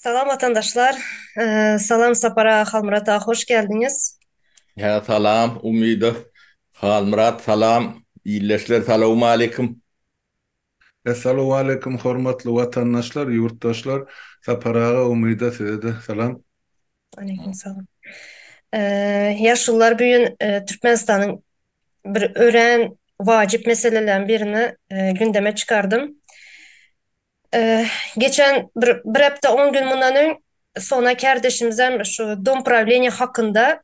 Salam watandaşlar. Salam Sapar aga, Halmyrat aga hoş geldiňiz. Hä salam Umyda, Halmyrat salam, ildeşler salawmaleýkim. Essalowaleýkum hormatly watandaşlar ýurtdaşlar Sapar aga Umyda sizede salam. Waleýkim salam. Ýaşulular bu gün Türkmenistanyň bir örän wajyp meselelerini birini gündeme çykardym. Geçen bir bir hepde on gün mundan öň Sona kärdeşimizem şu dom prawleniýe hakynda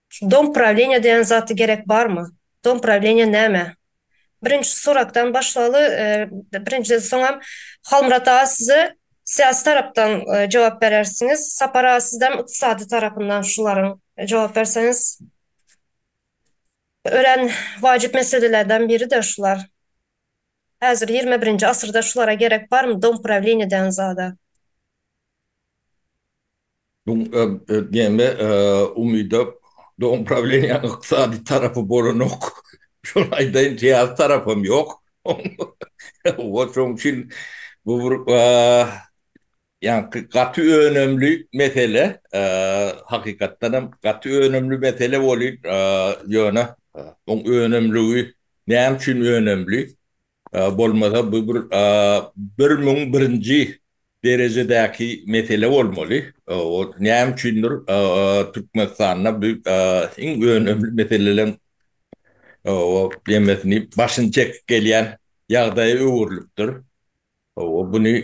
Şu dom prawleniýa diýen zat gerek barmy? Dom prawleniýa näme? Birinji suratdan başlaly birinjiden soňam Halmyrat aga size syýasy tarapdan jogap berersiňiz Sapar aga sizem ykdysady tarapyndan şularyň jogap berseňiz örän wajyp meselelerden biridir şular häzir ýigrimi birinji asyrda şulara gerek barmy dom prawleniýa diýen zada. Bu diýende Umyda dogum prawleniýanyň ykdysady tarapy bolanok. Şony aýdaýyn, syýasy tarapam ýok. Wah, şonuň üçin bu bir ýaňky gaty önümli mesele. Hakykatdan hem gaty önümli mesele welin, ýöne oň önümligi näme üçin önümli? Bolmasa bu bir bir müň birinji derejedäki mesele bolmaly. Näme üçindir Türkmenistanda bu iň önemli meseleleriň ýemesini başyny çekip gelýän ýagdaýa öwrülipdir. Buny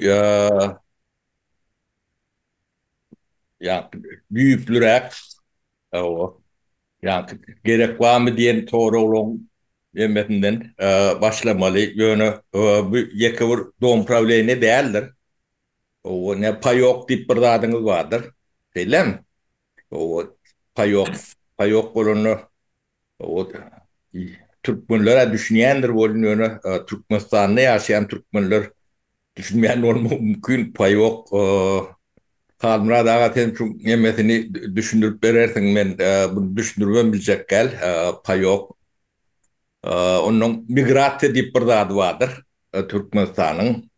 ýa-da düýplüräk ýa-da gerek barmy diýen soraglaryň hemmesinden başlamaly. Ýöne bu ýeke bir dom prawleniýe däldir. Ýa paýok diýip bir zadyňyz bardyr. Şeýlemi? Paýok, paýok bolanda Ot Türkmenler-ä düşünýändir welin ýöne Türkmenistanda ýaşaýan Türkmenler düşünmän bolmagy mümkin paýok. Halmyrat aga sen şuň emmesini düşündirip berersiň men buny düşündiribem biljek däl paýok. Onnoň migrasiýa diýip bir zady bardyr Türkmenistanyň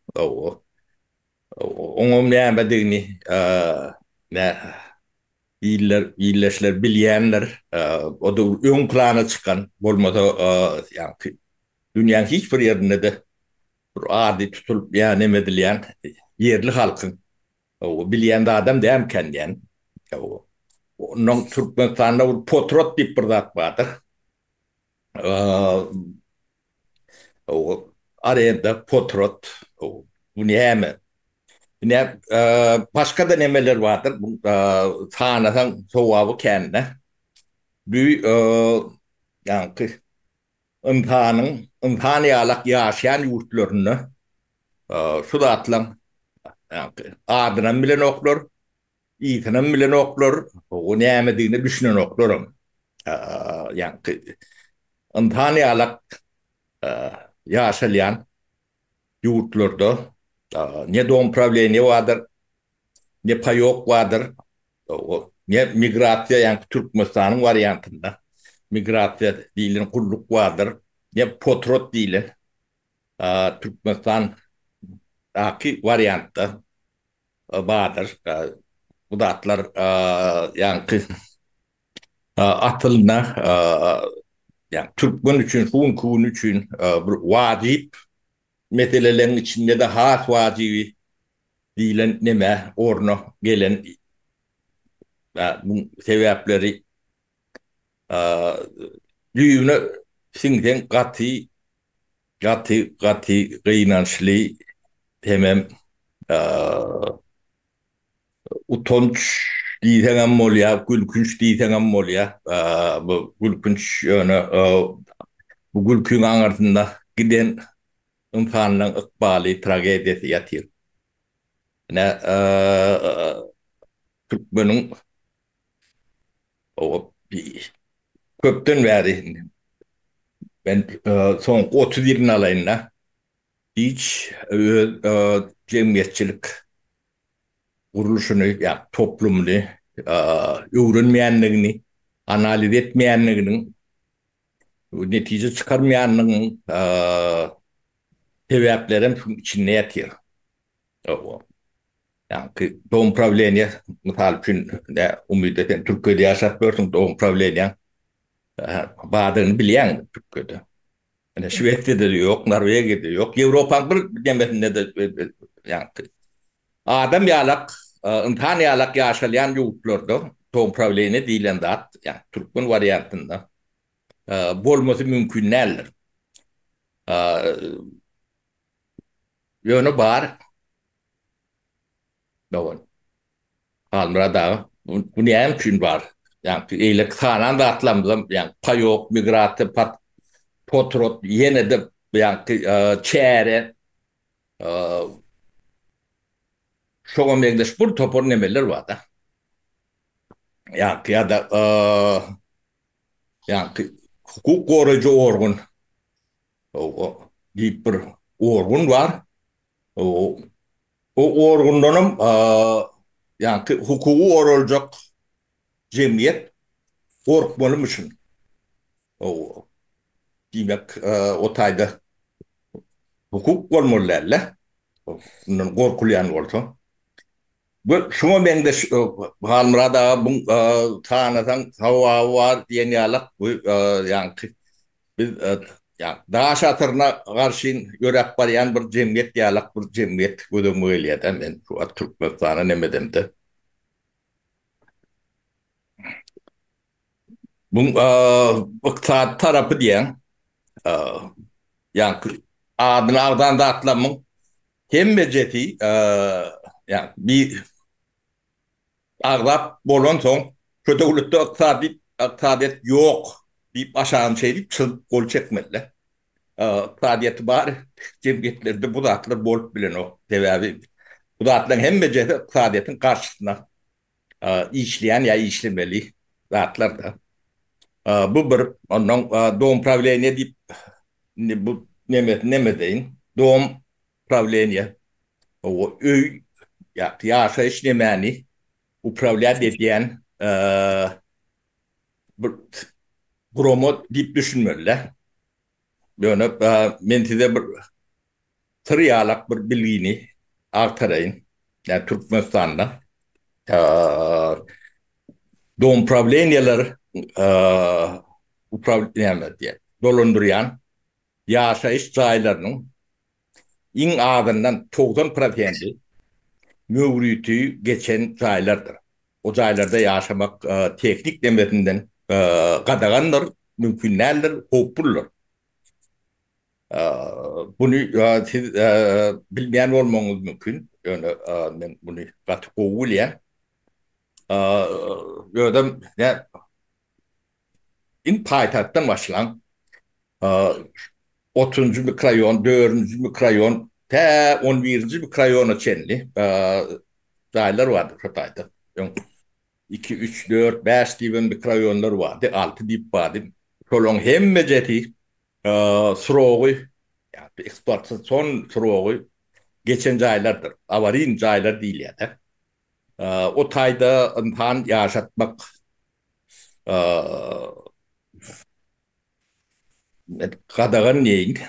oňam nämedigini nä Ilder illeşler bilýänler o döwür öň plana çykan bolmasa ýaňky dünýäň hiç bir ýerinde-de bir ady tutulyp ýa neme edilýän ýerli halkyň bilýän zadam dälmikäň diýen. Onnoň Türkmenistanda bir potrot diýip bir zat bardyr. Ow arenda potrot ow bu näme bu nä başgada nemeler bardyr bu sanasaň sowaby kände bü ýaňky ynsanyň ynsan ýalak ýaşaýan ýurtlarynda şu zatlaň ýaňky adynam bilenoklar Yzynam bilenoklar, o nämedigine düşünenoklarym. Ýaňky ynsan ýalak ýaşalýan ýurtlarda ne domoprawilenýe bardyr, ne paýok bardyr, ne migrasiýa, ýaňky Türkmenistanyň wariantynda migrasiýa diýlen gulluk bardyr, ne potrod diýlen Türkmenistandaky wariantda Badyr, bu zatlar ýaňky asylda ýa türkmen üçin şu günki gün üçin bir wajyp meseleleriň içinde-de has wajyby diýlen neme orna gelen bu sebäpleri düýbüne siňseň gaty Gaty gaty gynançly hemem utanç diýseňem bolýa gülkünç diýseňem bolýa bu gülkünç ýöne bu gülkiň aňyrsynda giden ynsanlaň ykbaly tragediýasy ýatyr ine türkmeniň Köpden bäri men soňky otuz ýylyny alaýyn-da, hiç öz jemgyýetçilik gurluşyny, ýagny toplumyny öwrenmeýändigini, analiz etmeýändiginiň, netije çykarmaýandygynyň sebäplerem şunuň içinde ýatyr. Hawa. Ýaňky dom prawleniýe mysal üçin indi Umyda sen Türkiýede ýaşap ýörsüň dom prawleniýaň bardygyny bilýäň Türkiýede. Ine Şwesiýada-da ýok, Norwegiýada-da ýok, Ýewropanyň bir nemesinde-de ýaňky adam ýalak, ynsan ýalak ýaşalýan ýurtlarda dom prawleniýe diýlen zat, ýaňky türkmen wariantynda bolmasy mümkin däldir. Ýöne bar dogan. Halmyrat aga, bu näme üçin bar? Ýagny eýleki sanan zatlarymyzam, ýagny paýok, migrasiýa, pat, potrod, ýene-de ýagny çäre, şoňa meňzeş bir topar nemeler bar-da. Ýagny ýa-da ýagny hukuk goraýjy organ O-o diýip bir orgun bar. O-o o orgundanam ýa-ki hukugy goraljak jemgyýet gorkmalymyşyn. O-o diýmek o taýda hukuk bolmaly däl-le. Mundan gorkulýan bolsa. Bir şuňa meňzeş Halmyrat aga bu tanasaň sowaby bar diýen ýalak bu ýaňky biz daş asyryna garşyn ýöräp barýan bir jemgyýet ýalak bir jemgyýet gözegime gelýärda men şu wagt Türkmenistana nemedemde. Buň ykdysady tarapy diýýän, ýaňky adyny agzan zatlamyň hemmejesi, ýagny bir agzap bolansoň, şu döwletde ykdysady, ykdysadyýet ýok diýip aşagyny şeýdip çyzyp gol çekmeli-dä. Ykdysadyýeti bar jemgyýetlerde bu zatlar bolup bilenok. Sebäbi bu zatlaryň hemmejesi ykdysadyýetiň garşysyna işleýän ýa işlemeli zatlar-da. Bu bir. Onnoň domprawleniýe diýip, indi bu nemesini näme edeýin? Domprawleniýe, öý ýa-da ýaşaýyş nemäni uprawlýat edýän bir gurama diýip düşünmeli-dä. Ýöne men size bir syr ýalak bir bilgini agtaraýyn. Ýa Türkmenistanda domprawleniýeler upraw näme diýýär, dolandyrýan ýaşaýyş jaýlarynyň iň azyndan togsan prosenti möwriti geçen jaýlardyr. O jaýlarda ýaşamak tehnik demetinden gadagandyr, mümkin däldir, howpludyr. Buny siz bilmeýän bolmagyňyz mümkin, ýöne men buny gaty gowy bilýän. Özem Iň paýtagtdan başlan, otuzynjy mikroýon, dördünji mikroýon, tä on birinji mikroýona çenli jaýlar bardy şo taýda. Öň iki, üç, dört, bäş diýibem mikroýonlar bardy, alty diýip bardy. Şolaryň hemmejesi surogy, ýa-da ekspluatasion son surogy geçen jaýlardyr. Awarin jaýlar diýilýär-de. O taýda ynsan ýaşatmak Gadagan diýeýin.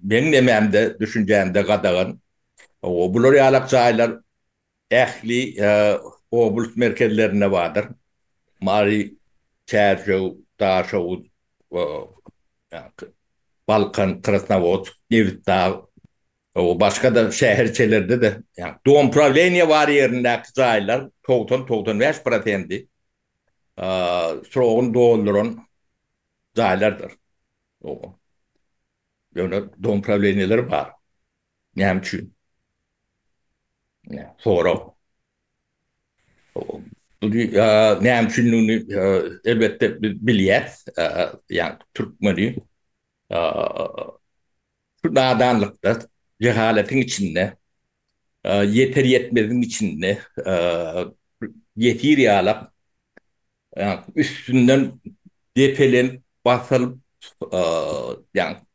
Meň nemämde, düşünjämde gadagan. Bular ýalak jaýlar ähli oblast merkezlerinde bardyr. Mary, Çärjew, Daşoguz, Balkan, Krasnowodsk, Nebitdag, Gowy, başga-da şäherçelerde-de, ýa domprawleniýe bar ýerindäki jaýlar togsan, togsan bäş prosenti srogyny dolduran jaýlardyr. Gowy. Ýöne domprawleniýeler bar. Näme üçin? Sorag. Buny näme üçindigini elbetde biz bilýäs. Ýa türkmeni Şu nadanlykda, jehaletiň içinde, ýeter-ýetmeziň içinde ýesir ýalap, üstünden depelenip, basylyp,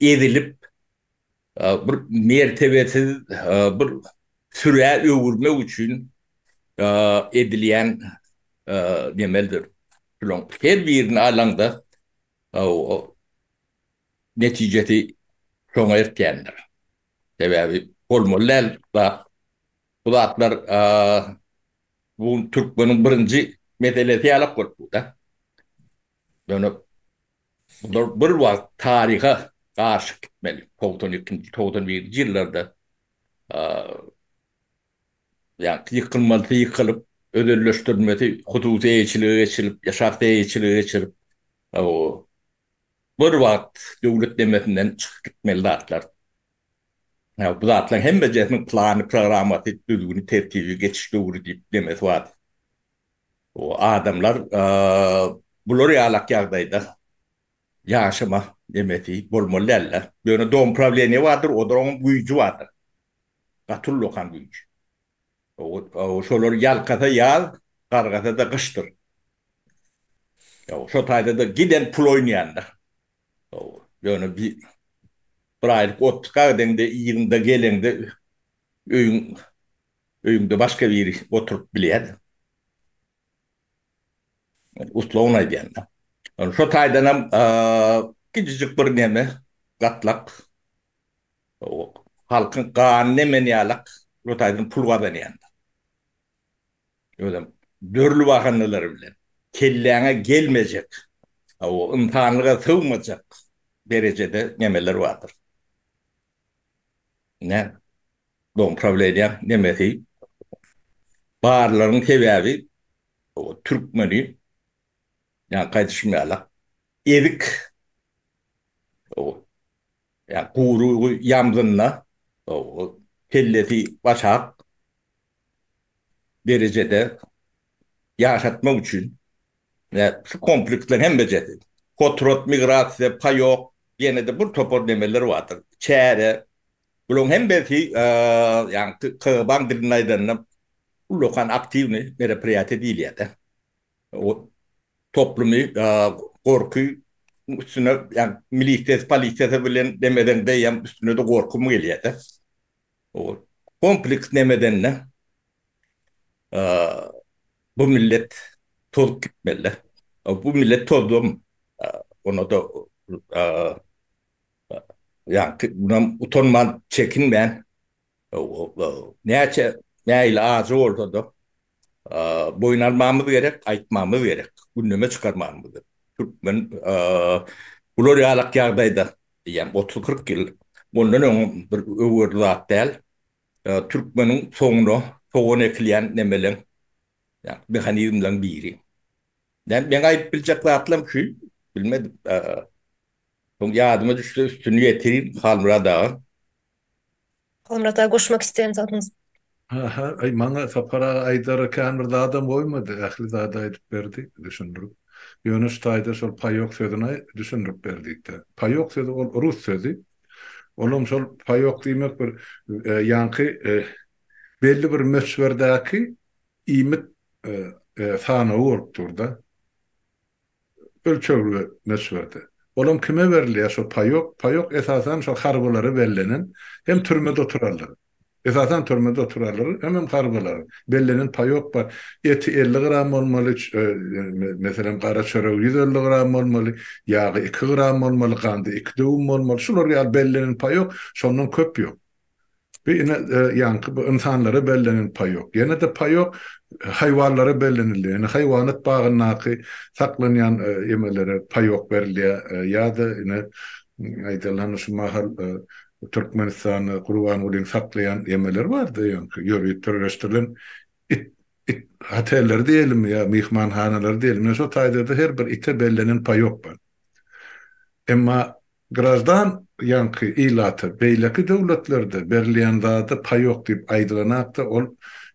ezilip, bir mertebesiz bir sürä öwürmek üçin edilýän emelidir. Şularyň her birini alaňda, netijesi şoňa eltýändir. Sebäbi bolmaly däl zat. Bu zatlar bu gün türkmeniň birinji meselesi ýalak bolup dur-da. Ýöne bular bir wagt taryha garşy gitmeli. Togsan ikinji, togsan birinji ýyllarda ýykylmalysy ýykylyp, özelleşdirilmesi hususy eýeçilige geçirilip, şahsy eýeçilige geçirilip, Bir wagt döwlet demesinden çykyp gitmeli zatlar. Ýa bu zatlaryň hemmejesiniň plany, programmasy, düzgüni, tertibi, geçiş döwri diýip demesi bar. Bu adamlar bular ýalak ýagdaýda ýaşama demesi bolmaly däldir. Ýöne domprawleniýe bardyr, oda oň güýji bardyr. Gaty ullakan güýji. Ýow, şolar ýalkasa ýaz, gargasa-da gyşdyr. Ýow, şo taýda-da giden pul oýnaýandyr. Ýow, ýöne bi bir aýlyk ot tyka gideňde, yzyňda geleňde öýüň öýüňde başga biri oturyp bilýär-de. Men uslugyn aýdýan-da. Ýöne şo taýdanam gijijik bir neme, gatlak. Halkyň ganyny emen ýalak Rut aýdym pul gazanýandyr. Özem dürli bahanalar bilen. Kelläňe gelmejek, hawa ynsanlyga sygmajak derejede nemeler bardyr. Ine Dom prawleniýaň nemesi barlygynyň sebäbi hawa türkmeni ýaňky aýdyşym ýalak ezik hawa Ýa guyrugy ýamzynda, kellesi başak derejede ýaşatmak üçin şu kompleksleriň hemmejesi, kotrot, migrasiýa, paýok, ýene-de bir topar nemeler bardyr, çäre. Bularyň hemmesi, ýagny KGB-nyň dilinde aýdanda, ullakan aktiwnyý meropriýatiýa diýilýär-de. toplumy gorky üstüne ýagny milisiýasy polisiýasy bilen demeden beýem üstüne-de gorkym gelýärdi. Ol kompleks nemedende bu millet tozup gitmelidi. Bu millet tozubam ona-da ýagny utanman çekinmän Näçe meýli ajy bolsa-da, boýun almamyz gerek, aýtmamyz gerek, gündeme çykarmamyz gerek. Türkmen bular ýalak ýagdaýda, diýýän, otuz-kyrk ýyl mundan öň bir öwerli zat däl. Türkmeniň soňuna sogan ekilýän nemeleň, mehanizmleň biri. Näme, meň aýdyp biljek zatlarym şu, bilmedim. Soň ýadyma düşse üstüni ýetirin, Halmyrat aga. Komrata goşmak isleýän zadyňyz. Aha, aý maňa Sapar aga aýdara kän bir zadam goýmady, ähli zady aýdyp berdi, düşündirip. Ýöne şu taýda şol paýok sözüni aý düşündirip ber diýipdir. Paýok sözi ol rus sözi. Olam şol paýok diýmek bir ýaňky belli bir möçberdäki iýmit sanawy bolup dur-da. ölçegli möçberde. Olam kime berilýär şo paýok? Paýok esasan şo harbylara bellenen hem türmede oturarlar. Esasan türmede oturarlar hemem harbylara bellenen paýok bar. Eti elli gram bolmaly, meselem gara çöregi ýüz elli gram bolmaly, ýagy iki gram bolmaly, gandy iki döwüm bolmaly. Şular ýaly bellenen paýok şondan köp ýok. Bir ine ýaňky bu ynsanlara bellenen paý ýok. Ýene-de paý ýok, haýwanlara bellenilýär. Ýöne haýwanat bagyndaky saklanýan emelere paý ýok berilýär. Ýa-da ine aýdylany şu mahal Türkmenistanda Gurbangulyň saklaýan emeleri bardy ýaňky ýörite birleşdirilen it it hotelleri diýelimi ýa myhmanhanalary diýelimi. Ýöne şo taýda-da her bir ite bellenen paý ýok bar. Emma Graždan ýaňky ilata beýleki döwletlerde berilýän zada paý ýok diýip aýdylanakda ol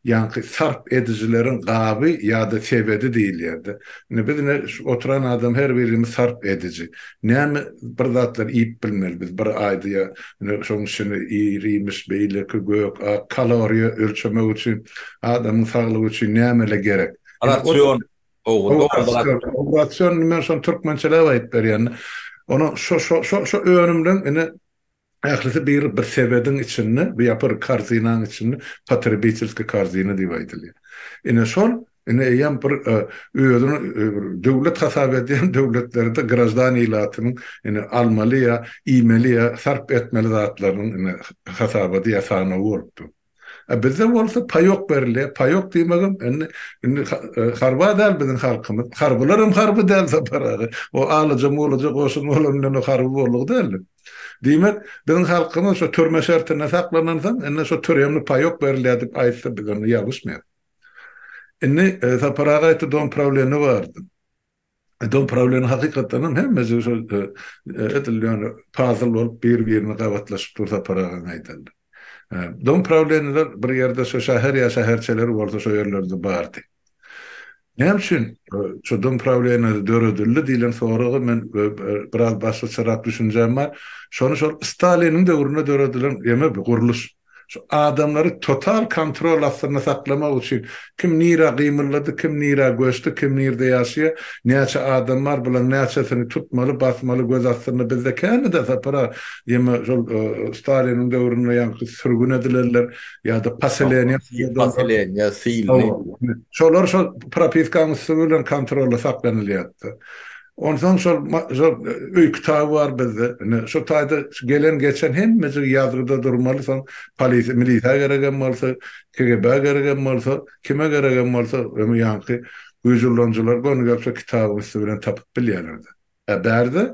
ýaňky sarp edijileriň gaby ýa-da sebedi diýilýärdi. Indi biz ine şu oturan adam her birimiz sarp ediji. Näme bir zatlar iýip bilmeli biz bir aýda ýa ine şoň içini ir-iýmiş beýleki gök, ak kaloriýa ölçemek üçin adamyň saglygy üçin nämeler gerek? Rasion Rasion men şony türkmençeläp aýdyp berýän. Ony şo şo şo şo önümleň ine ählisi bir bir sebediň içinde, bu ýapyr korzinanyň içinde potrебительskiý korzina diýip aýdylýar. Ine şol ine eýýäm bir özüni bir döwlet hasap edýän döwletlerde graždan ilatynyň ine almaly ýa iýmeli ýa sarp etmeli zatlarynyň ine hasabady ýa sanawy bolup dur. A bizde bolsa paýok berilýär. Paýok diýmegem indi indi harba däl biziň halkymyz. Harbylar hem harby däl Sapar aga. O alaja mulaja goşun bolan bilen o harby boldugy däldi. Diýmek, biziň halkymyz şu türme şertinde saklanansoň, indi şu türemli paýok berilýär diýip aýtsa biz onda ýalgyşmaýarys. Indi Sapar aga aýtdy domprawilenýe bardy. Edil prawleniň hakykatdanam hemmesi şol edil ýaly pazyl bolup bir-birine gabatlaşyp dur Sapar agaň aýdanda. Dom prawleniler bir ýerde şo şäher ýa şäherçeler bolsa şo ýerlerde bardy. Näme üçin şo dom prawlenileri döredildi diýlen soraga men biraz başgaçarak düşünjäm bar. Şony şol Staliniň döwründe döredilen ýeme bu gurluş. Şu adamlary total kontrol astynda saklamak üçin kim nirä gymyldady, kim nirä göçdi, kim nirde ýaşaýar, näçe adam bar, bularyň näçesini tutmaly, basmaly, göz astynda bizde känede Sapar aga, ýeme şol Staliniň döwründe ýaňky sürgün edilenler ýa-da poseleniýa poseleniýa sylly. Şolar şol propiskaň üsti bilen kontrolda saklanylýardy. Onsoň şol şol öý kitaby bar bizde. Ine, şu taýda gelen-geçen hemmejik ýazgyda durmaly, soň polisiýa, milisiýa geregem bolsa, KGB-a geregem bolsa, kime geregem bolsa, öňi ýaňky güýji ulanyjylar göni gelse kitabyň üsti bilen tapyp bilýärler-de. Ä bärde,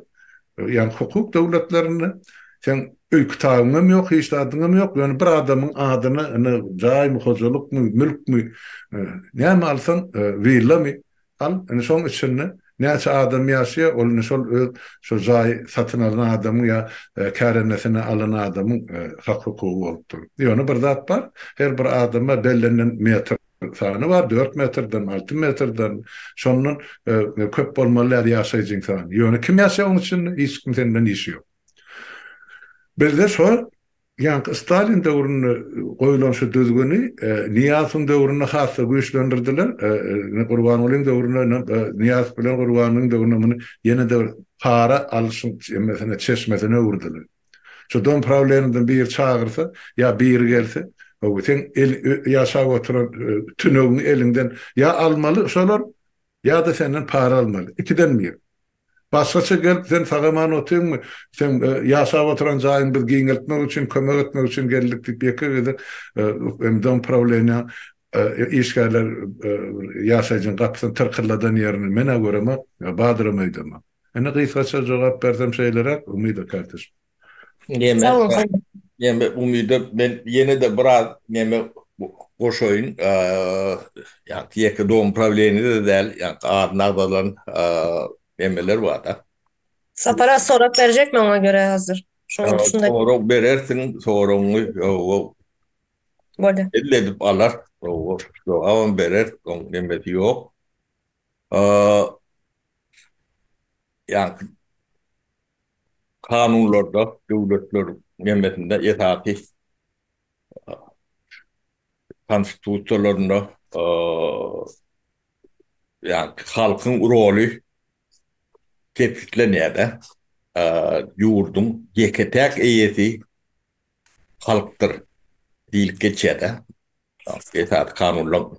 ýagny hukuk döwletlerinde seň öý kitabyňam ýok, hiç zadyňam ýok, ýöne bir adamyň adyna ine jaýmy, hojalykmy, mülkmi, näme alsaň, willamy, Al, indi şoň içinde näçe adam ýaşaýar, ol indi şol öz şo jaýy satyn alan adamyň ýa kärendesinä alan adamyň hak-hukugy bolup dur. Ýöne bir zat bar, her bir adama bellenilen metr sany bar, dört metrden, alty metrden, şondan köp bolmaly däl ýaşaýjyň sany. Ýöne kim ýaşaýar oň içinde? Hiç kimseň bilen işi ýok. Bizde şo Ýaňky Stalin döwründe goýlan şu düzgüni Nyýazowyň döwründe has-da güýçlendirdiler. Indi Gurbangulyň döwründe ine Nyýazow bilen Gurbangulyň döwründe muny ýene-de bir para alyşyň emesine, çeşmesine öwürdiler. Şu Dom prawleniýadan biri çagyrsa ýa biri gelse, Hawa, seň ýaşap oturan tünegiňi eliňden ýa almaly şolar ýa-da senden para almaly. Ikiden bir. Başgaça gelip sen sagaman otyňmy? Seň ýaşap oturan jaýyň biz giňeltmek üçin, kömek etmek üçin geldik diýip ýeke gezek Dom prawleniýa işgärler ýaşaýjyň gapysyny tyrkyrladan ýerini men-ä göremok, Badram öýdemi? Ine gysgaça jogap bersem şeýleräk, Umida kardeş. Näme? Näme umyda men ýene-de biraz näme goşaýyn. Ýa-da ýeke dogum prawleniýede däl, ýa-da adyny agzalan nämeler bar-da. Sapara sorag berjek men oňa görä hazir. Şoňa şunda. Sorag berersiň, soragyňy hawa. Bolýar. Elli edip alar, hawa. Jogabam berer, oň nemesi ýok. ýaňky kanunlarda döwletler jemgyýetinde esasy konstitusiýalarynda ýaňky halkyň roly kesgitlenýär-de, ýurduň ýeke-täk eýesi halkdyr diýlip geçýär-de, esasy kanunlaryň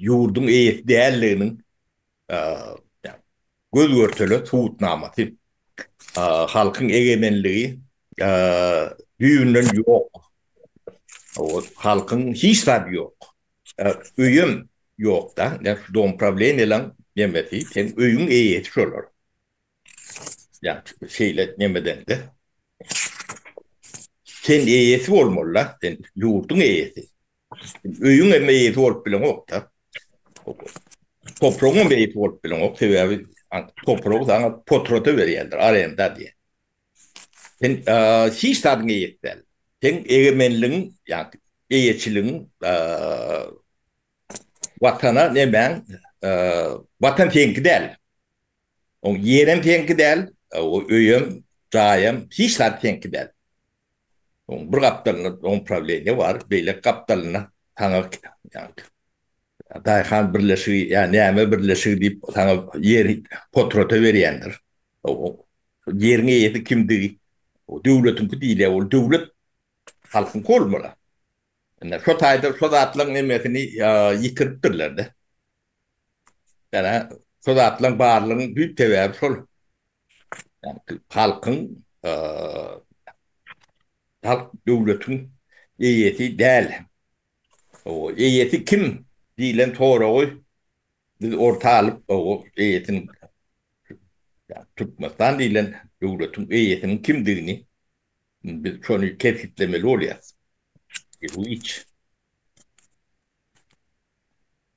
ýurduň eýesi däldiginiň göz-görtele subutnamasy. Halkyň egemenligi düýbünden ýok. Halkyň hiç zady ýok. Öýem ýok-da. Domuprawleniýalaň nemesi, seň öýüň eýesi şolar. Ýa şeýle nemedeňde sen eýesi bolmaly-da, sen ýurduň eýesi. Öýüň hem eýesi bolup bileňok-da. Topragyň hem eýesi bolup bileňok, sebäbi topragy saňa potrada berýärler, arenda diýen. Sen hiç zadyň eýesi däl. Sen egemenligiň, ýagny eýeçiligiň Watana nemäň, Watan seňki däl. Oň ýerem seňki däl, o öýem, jaýam hiç zat seňki däl. Oň bir gapdalynda oň prawleniýe bar, beýleki gapdalynda saňa daýhan birleşigi ýa näme birleşigi diýip saňa ýer potrota berýändir. Ýeriň eýesi kimdigi o döwletiňki diýilýär, ol döwlet halkyňky bolmaly. Ine şo taýdan şo zatlaryň hemmesini ýitiripdirler-de. Ýöne şo zatlaryň barlygynyň düýp sebäbi şol. Halkyň, halk döwletiň eýesi däl. Eýesi kim diýlen soragy biz orta alyp, eýesiniň, Türkmenistan diýlen döwletiň eýesiniň kimdigini biz şony kesgitlemeli bolýarys. Hiç.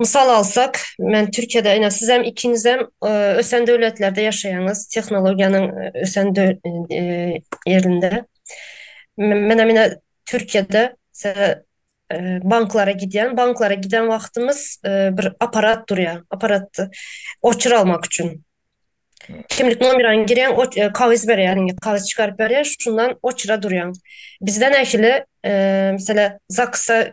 Mysal alsak, men Türkiýede, ine sizem ikiňizem ösen döwletlerde ýaşaýaňyz, tehnologiýanyň ösen ýerinde. Menem ine Türkiýede banklara gidýän, banklara giden wagtymyz bir aparat durýar, aparat oçur almak üçin. Kimlik nomeraňy girýäň, kagyz berýär, kagyz çykaryp berýär, şundan oçura durýaň. Bizde nähili, meselem, zaksa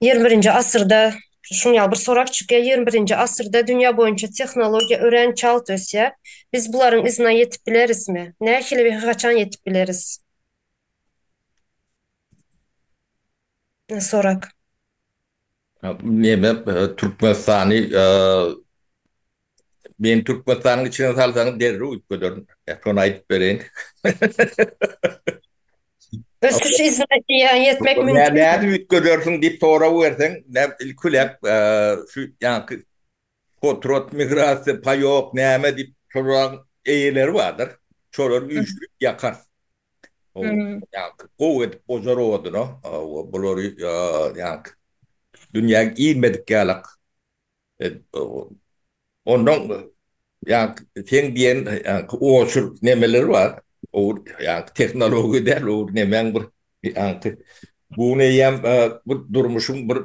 Ýigrimi birinji asyrda şunuň ýaly bir sorag çykýar, ýigrimi birinji asyrda dünýä boýunça tehnologiýa örän çalt ösýär. Biz bularyň yzyna ýetip bilerismi? Nähili we haçan ýetip bileris? Sorag. Türkmenistany Meni Türkmenistanyň içine salsaňyz derrew uýup göderin. Şony aýdyp bereýin. Ösüş izletiýa ýetmek mümkin. Nädip uýup gödersiň diýip sorag berseň, ilkilep şu ýaňky potrot migrasiýa, paýok, näme diýip soragyň eýeleri bardyr. Şolary üýşürip ýakar. Ýaňky gowy edip bojar oduny. Bulary ýaňky dünýäň iýmedik ýalak. Ondan ýa-da seň diýen oçur nemeler bar. Owur ýa-da tehnologiýa däl, owur nemäň bir ýa-da bu eýýäm bir durmuşyň bir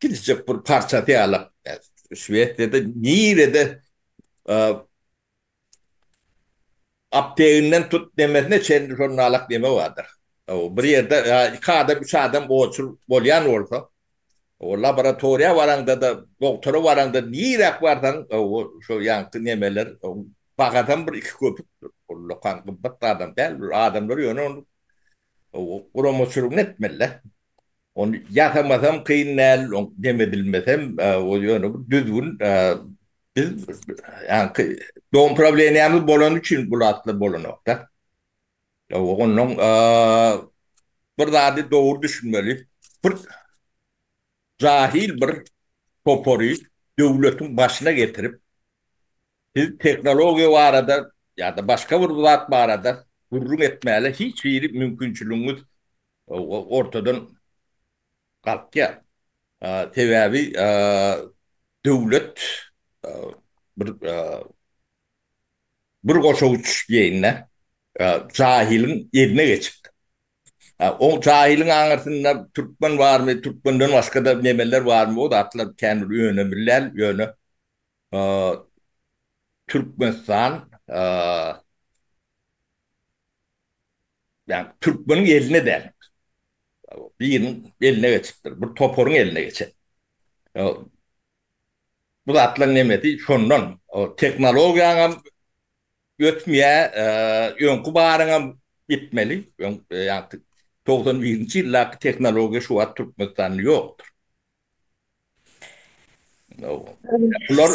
gidijek bir parçasy ýaly. Şwesiýada nirede Apteginden tut demesine çenli şol nalak deme bardyr. Bir ýerde iki adam, üç adam oçur bolýan bolsa, laboratoriýa baraňda-da, dogtora baraňda niräk barsaň, şo ýaňky nemeler, bahadan bir iki köpükdir. Ol lokan gymmat zadam däl. Bir adamlar ýöne ony guramaçylygyny etmeli-dä. Ony ýasamasam kyn däl, ony demedilmesem, ýöne bir düzgün Biz ýaňky dogum problemiýamyz bolany üçin bu zatlar bolanokda. Ýa-da ondan bir zady dogry düşünmeli. Bir jahil bir topary döwletiň başyna getirip, siz tehnologiýa barada ýa-da başga bir zat barada gürrüň etmäge hiç hili mümkinçiligiňiz ortadan galkýar. Sebäbi döwlet bir bir goşa uç diýeýin-dä, jahylyň eline geçipdir. O jahylyň aňyrsynda türkmen barmy, türkmenden başga-da nemeler barmy, o zatlar kän bir önemli däl, ýöne Türkmenistan Ýagny türkmeniň eline däl. Biriniň eline geçipdir. Bir toparyň eline geçen. Bu zatlaryň hemmesi şondan. Tehnologiýaň hem ötmeýär, öňki baryň hem gitmeli. Ýagny togsan birinji ýyldaky tehnologiýa şu wagt Türkmenistanda ýokdur. Bular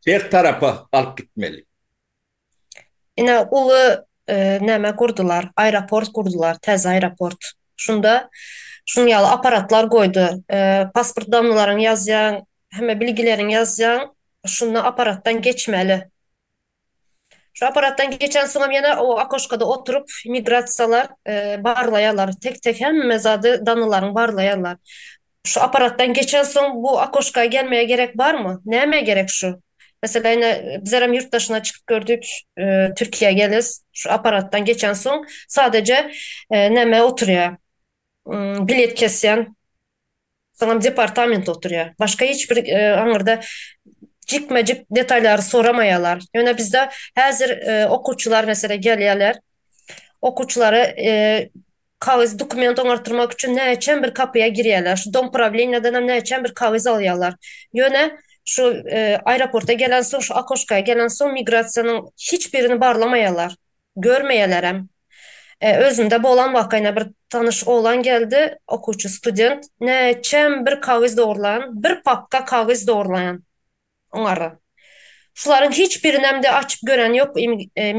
her tarapa alyp gitmeli. Ine uly näme gurdular, aeroport gurdular, täze aeroport. Şunda şunuň ýaly apparatlar goýdy. Pasport damnalaryňy ýazýaň, hemme bilgileriňi ýazýaň, şunda apparatdan geçmeli. Şu apparatdan geçensoňam ýene o okoşkada oturyp migrasiýalar barlaýarlar, tek-tek hemme zady, damnalaryňy barlaýarlar. Şu apparatdan geçensoň bu okoşka gelmege gerek barmy? Näme gerek şu? Meselem ine bizerem ýurt daşyna çykyp gördük, Türkiýä geles şu apparatdan geçensoň sadaje näme oturýa bilet kesýän soňam departament oturýa başga hiç bir aňyrda jikme jik detaýlary soramaýalar. Ýöne bizde häzir okuwçylar meselem gelýäler okuwçylary Kagyz dokument oňartdyrmak üçin näçem bir kapyýa girýäler, şu dom prawleniýadanam näçem bir kagyz alýalar. Ýöne şu aeroporta gelensoň, şu okoşka gelensoň migrasiýanyň hiç birini barlamaýalar, görmeýälerem. Özümde bolan waka ýene bir tanyş oglan geldi, okuwçy student, näçem bir kagyz dogurlan, bir papka kagyz dogurlan. Oňara. Şularyň hiç birinem-de açyp gören ýok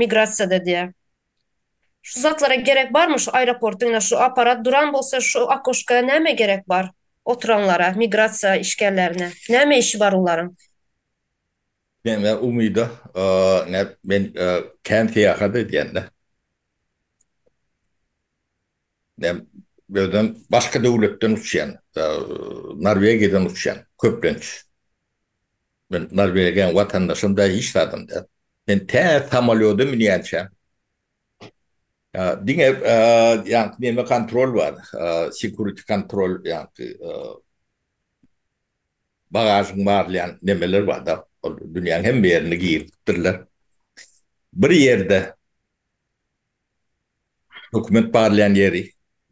migrasiýada diýä. Şu zatlara gerek barmy şu aeroportda ine şu aparat duran bolsa şu okoşka näme gerek bar oturanlara migrasiýa işgärlerine näme işi bar olaryň. Meňä umyda näp men kän syýahat edýän-dä. Näm birden başga döwletden uçýan, Norwegiýadan uçýan köplenç. Men Norwegiýanyň watandaşym däl, hiç zadam däl. Men tä samolýoda münýänçä diňe ýaňky neme kontrol bar, security kontrol ýaňky bagažyňy barlaýan nemeler barda, ol dünýäň hemme ýerine giripdirler. Bir ýerde Dokument barlaýan ýeri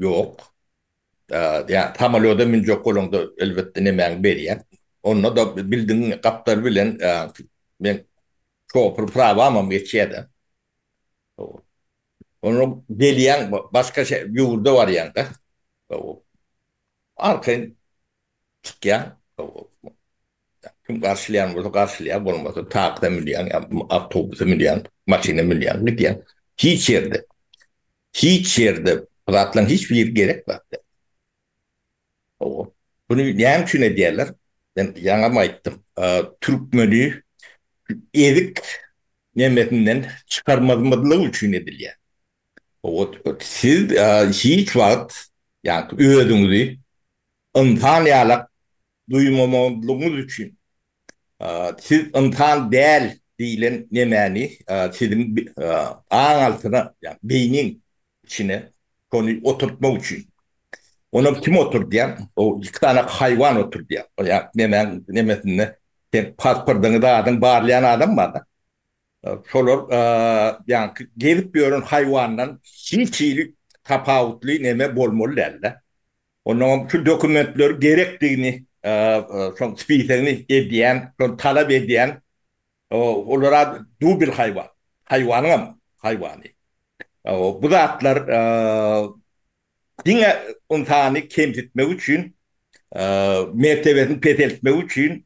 ýok. Ýa samolýoda münjek bolaňda elbetde nemäňi berýär. Onda-da bildiň gapdal bilen men şofir prawamam geçýär-de. Onda gelýäň başga ýurda barýaň-da. Arkaýyn Çykýaň, kim garşylaýan bolsa garşylaýar, bolmasa taksä münýäň, awtobusa münýäň, maşyna münýäň, gidýäň. Hiç ýerde, hiç ýerde bu zatlaryň hiç biri gerek zat däl. Hawa. Muny näme üçin edýärler? Men ýaňam aýtdym. Türkmeni ezik nemesinden çykarmazmyzlyk üçin edilýär. Hawa, siz hiç wagt ýa-da özüňizi Ynsan ýalak duýmamazlygyňyz üçin siz ynsan däl diýlen nemäni siziň aň altyna ýagny beýniň içine şony oturtmak üçin. Onam kim oturdýar? O iki sany haýwan oturdýar. O ýa nemäň nemesinde seň pasportyňy zadyňy barlaýan adam barda. Şolar ýaňky gezip ýören haýwandan hiç hili tapawutly neme bolmaly dälda. Onuňam şu dokumentleri gerekdigini, şoň spisogini edýän, şony talap edýän, olara dubl haýwan, haýwanyňam haýwany. Bu zatlar diňe ynsany kemsitmek üçin, mertebesini peseltmek üçin,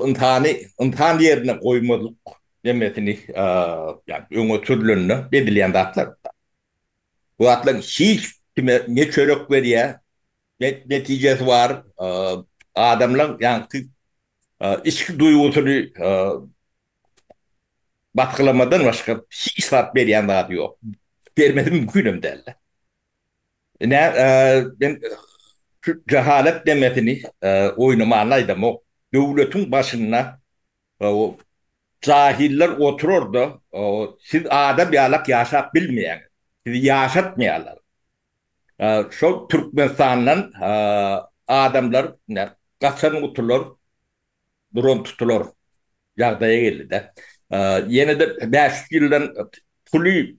ynsany ynsan ýerine goýmazlyk nemmesini öňe sürülende edilýän zatlar. Bu zatlaryň hiç kime ne çörek berýär, ne netijesi bar, adamlaryň ýaňky içki duýgusyny batgylamadan başga hiç zat berýän zady ýok. Bermesi mümkin hem däl-de. Ine, men şu jahalat demesini oýnamana aýdamok. Döwletiň başynda Jahiller oturar-da, Siz adam ýalak ýaşap bilmeýäňiz. Sizi ýaşatmaýarlar. Şol Türkmenistandan adamlar gaçan gutular duran tutular ýagdaýa geldi-de. Ýene-de bäş ýüz ýyldan puly,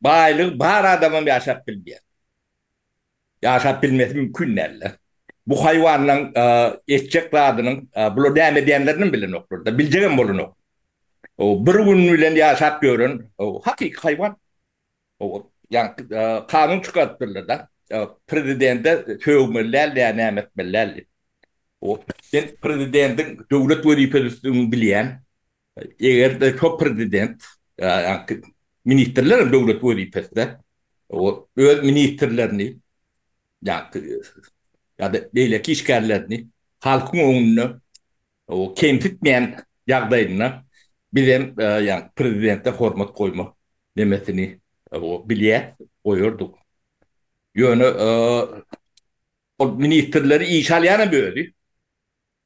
baýlygy bar adamam ýaşap bilmeýär. Ýaşap bilmesi mümkin däldi. Bu haýwanlaň etjek zadynyň bular näme edýänlerinem bilenoklar-da, biljegem bolanok. Bir gün bilen ýaşap ýören hakyky haýwan. Ýa-da kanun çykarypdyrlar-da, prezidente sögmeli däl ýa näme etmeli däl diýip. Sen prezidendiň döwlet wezipesi üstünligini bilýän. Eger-de şo prezident, ýa-da ministrler hem döwlet wezipesinde, ol öz ministrlerini, ýa-da beýleki işgärlerini halkyň öňünde kemsitmeýän ýagdaýynda, biz hem prezidente hormat goýma nemesini bilýär, goýardyk. Ýöne ol ministrleri işe alýanam özi,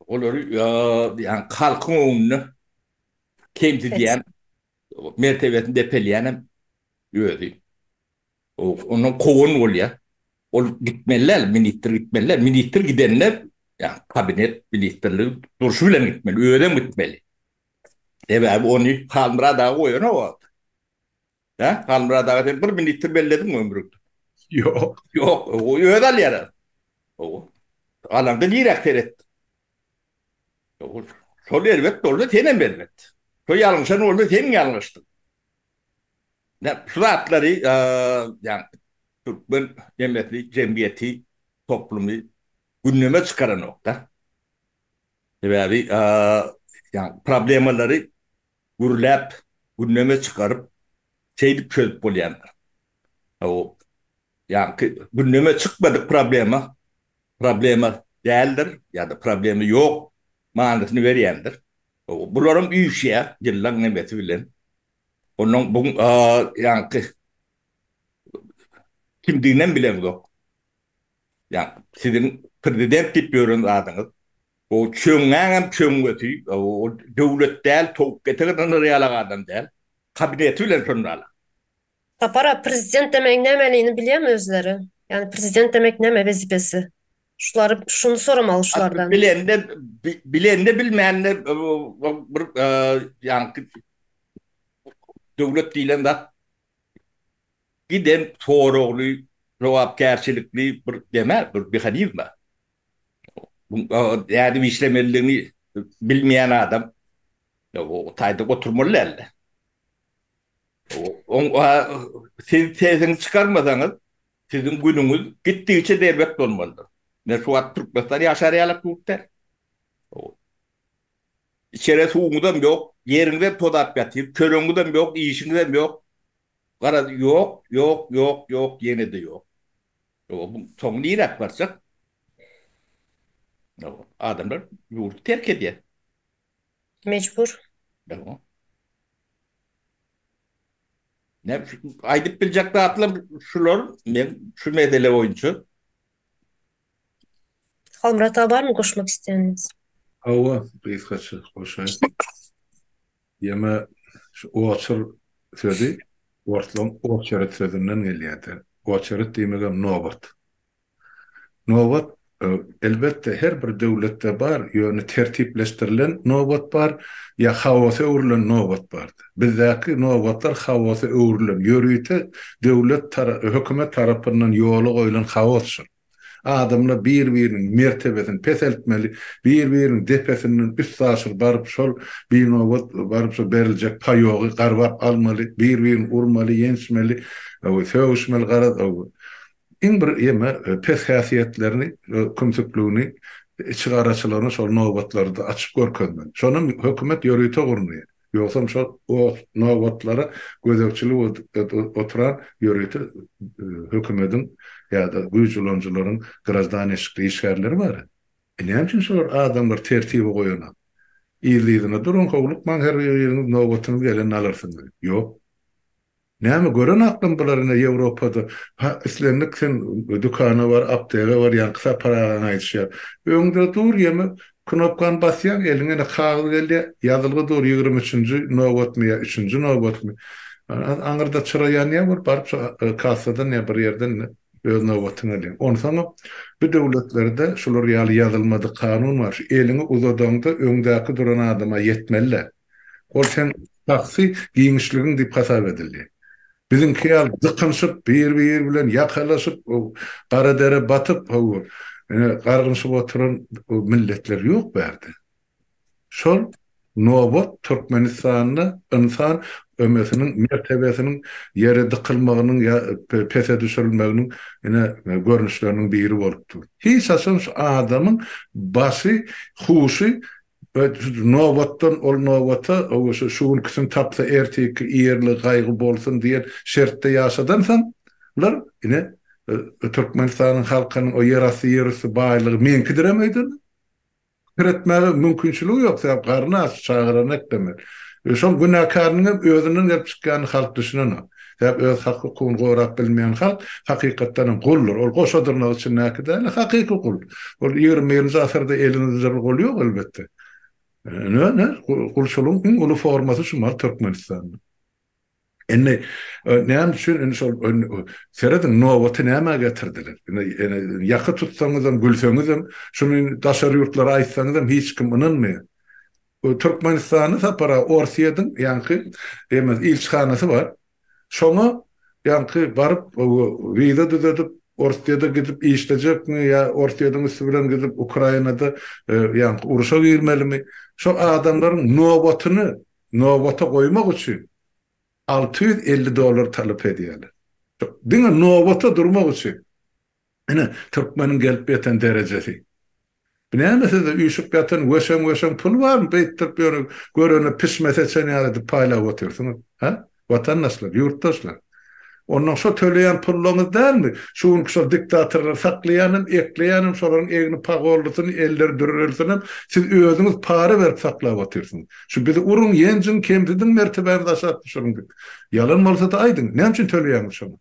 Olary ýa-da halkyň öňünde kemsidýän, mertebesini depelýän hem özi. Ondan kowan bolýar. Ol gitmeli däl, ministr gitmeli däl. Ministr gidende, ýagny kabinet ministrligi durşy bilen gitmeli, özem gitmeli. Sebäbi ony Halmyrat aga goýanok wagty. Hä? Halmyrat aga sen bir ministr bellediňmi ömrüňde? Ýok. Ýok, o özi alýar az. Ow. Alanda niräk seretdi? Ow. Şol erbet bolsa senem erbet. Şo ýalňyşan bolsa seň ýalňyşdyň. Näm, şu zatlary, ýagny türkmen nemesi, jemgyýeti, toplumy gündeme çykaranok-da. Sebäbi, ýagny problemalary gürläp, gündeme çykaryp, şeýdip çözüp bolýandyr. O, ýaňky gündeme çykmadyk problema, problema däldir ýa-da problema ýok manysyny berýändir. O, bularam üýşýär ýyllaň nemesi bilen. Onuň bu ýaňky kimdiginem bileňzok. Ýa siziň prezident diýip ýören zadyňyz o çöňňäňem çöňňesi o döwlet däl towuk ketek ynandyr ýalak adam däl kabineti bilen şondalar. Sapar aga prezident demegiň nämeligini bilýämi özleri? Ýagny prezident demek näme wezipesi? Şulary şuny soramaly şulardan. Bilende bilende bilmände bir ýaňky döwlet diýlen zat Giden soragly, jogapkärçilikli bir dema, bir mehanizma. Nädip işlemelidigini bilmeýän adam o taýda oturmaly däldi. Siz sesiňizi çykarmasaňyz, siziň günüňiz gitdigiçe berbet bolmalydyr. Men şu wagt Türkmenistan ýaşar ýalak ýurt däl. Içere suwuňyzam ýok, ýeriňizem tozap ýatyr, çöregiňizem ýok, işiňizem ýok. Garaz, ýok, ýok, ýok, ýok, ýene-de ýok. Ýa bu soňy niräk barjak? Ýa adamlar ýurdy terk edýär. Mejbur. Ýa. Näme üçin? Aýdyp biljek zatlar şular. Men şu mesele boýunça Halmyrat aga barmy goşmak isleýäniňiz? Hawa, gysgaça goşaýyn. Ýeme şu oçer sözi orslaň oçeret sözünden gelýärdi. Oçeret diýmegem nobat. Nobat, elbetde, her bir döwletde bar, ýöne tertipleşdirilen nobat bar, ýa haosa öwrülen nobat bardy. Bizdäki nobatlar haosa öwrülen, ýörite döwlet tarapy, hökümet tarapyndan ýola goýlan haosdyr. Adamlar bir-biriniň mertebesini peseltmeli, bir-biriniň depesinden üstaşyr baryp şol binobat baryp şol beriljek paýogy garbap almaly, bir-birini urmaly, ýençmeli, sögüşmeli garaz iň bir ýeme pes häsiýetlerini, kümsükligini, içigaraçylygyny şol nobatlarda açyp görkezmeli. Şonam hökümet ýörite gurnaýar. Ýogsam şol oz nobatlara gözegçilik edip oturan ýörite hökümediň ýa-da güýç ulanyjylaryň graždanişikli işgärleri bar-a. E näme üçin şolar adamlary tertibe goýanok? Yzly-yzyna duruň, howlukmaň, her biriňiz nobatyňyz gelende alarsyňyz. Ýok. Näme gören aklym bular ine ýewropada ha islendik sen dükana bar aptega bar ýaňky sapar agaň aýdyşy ýaly öňde dur ýeme knopkany basýaň eliňe ine kagyz gelýä ýazylgy dur ýigrimi üçünji nobatmy ýa üçünji nobatmy aňyrda çyra ýanýa bul baryp şu kassadan ýa bir ýerden ine öz nobatyňy alýaň onsoňam bu döwletlerde şular ýaly ýazylmadyk kanun bar şu eliňi uzadaňda öňdäki duran adama ýetmelidä. Ol seň şahsy giňişligiň diýip hasap edildi. Biziňki ýaly dykynyşyp, bir-biri bilen ýakalaşyp, gara dere batyp, hawa, ine, gargynyşyp oturan milletler ýok bu ýerde. Şol nobat Türkmenistanda ynsan ömesiniň, mertebesiniň ýere dykylmagynyň ýa pese düşürilmeginiň, ine, görnüşleriniň biri bolup dur. Hiç haçan şu adamyň başy, huşy Nobatdan ol nobata, owaşa şu günküsini tapsa erteki ýerli gaýgy bolsun diýen şertde ýaşadansoň, lar, ine, Türkmenistanyň halkynyň o ýerasty, ýerüsti baýlygy meňkidirem öýdende, pikir etmäge mümkinçiligi ýok, sebäp garny aç, çagalary eklemeli. Şoň günäkäriniňem özünden gelip çykýanyny halk düşünenok. Sebäbi öz hak-hukugyny gorap bilmeýän halk, hakykatdan hem, guldur. Ol goşa dyrnak içindäki däl-de, hakyky gul. Ol ýigrimi birinji asyrda elini üzerli gul ýok, elbetde. Ine, ine, gulçulygyň iň uly formasy şu mahaly Türkmenistanda. Indi, näme üçin indi şol, serediň, nobaty nämä getirdiler? Indi, indi ýaka tutsaňyzam, gülseňizem, şuny daşary ýurtlara aýtsaňyzam hiç kim ynanmaýar. Ol Türkmenistana sapara Orsýetiň ýaňky demez ilçihanasy bar. Şoňa ýaňky baryp wiza düzedip Orsýede gidip işlejekmi ýa Orsýetiň üsti bilen gidip Ukrainada ýaňky uruşa girmelimi şo adamlaryň nobatyny nobata goýmak üçin alty ýüz elli dollar talap edýärler. Diňe nobata durmak üçin. Ine, türkmeniň gelip ýeten derejesi. Bu näme sizde üýşüp ýatan weşeň-weşeň pul barmy, beýtdirip ýöne görene pişme seçen ýaly edip paýlap otyrsyňyz, hä, watandaşlar, ýurtdaşlar? Onnoň şo töleýän pullaryňyz dälmi, şu günki şol diktatorlary saklaýanem, ekleýänem, şolaryň egni pagollusyny, elleri dürrülisinem siz özüňiz para berip saklap otyrsyňyz. Şu bizi uruň, ýenjiň, kemsidiň, mertebämizi aşak düşüriň diýip. Ýalan bolsa-da aýdyň, näme üçin töleýäňiz şoňa?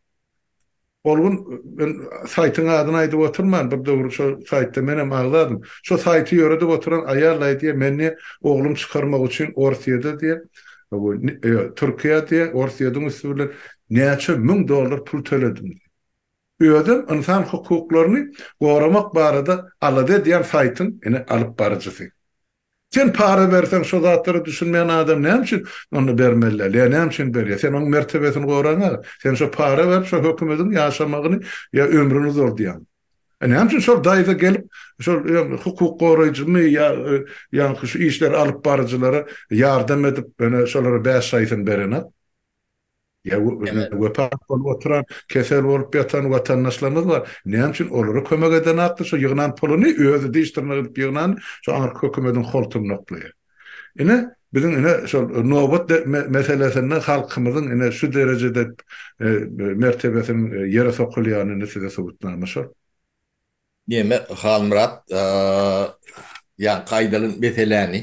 Ol gün men saýtyň adyny aýdyp oturman, bir döwür şo saýtda menem agzadym. Şo saýty ýöredip oturan aýal aýdýar, men diýýär, oglum çykarmak üçin Orsýede diýýär, ýa Türkiýä diýýär, Orsýediň üsti bilen näçe müň dollar pul töledim diýýär. Özem ynsan hukuklaryny goramak barada alada edýän saýtyň ine alypbaryjysy. Sen para berseň şo zatlara düşünmeýän adam näme üçin onda bermeli däl ýa näme üçin berýär sen oň mertebesini goraňa sen şo para berip şo hökümediň ýaşamagyny ýa ömrüni uzaldýaň e näme üçin şol daýza gelip şol ýa hukuk goraýjymy ýa ýaňky şu işleri alyp baryjylara ýardam edip ýöne şolara bäş şaýsyn berenak. Ýa wepat bolup oturan, kesel bolup ýatan watandaşlarymyz bar. Näme üçin olara kömek edenokdy? Şo ýygnan puluny özi diş dyrnak edip ýygnan şo aňyrky hökümediň holtuny noklaýar. Ine, biziň ine şol nobat meselesinde halkymyzyň ine şu derejede mertebesiniň ýere sokulýany indi size subutnama şol. Diýmek, Halmyrat, ýaňky aýdylan meseläni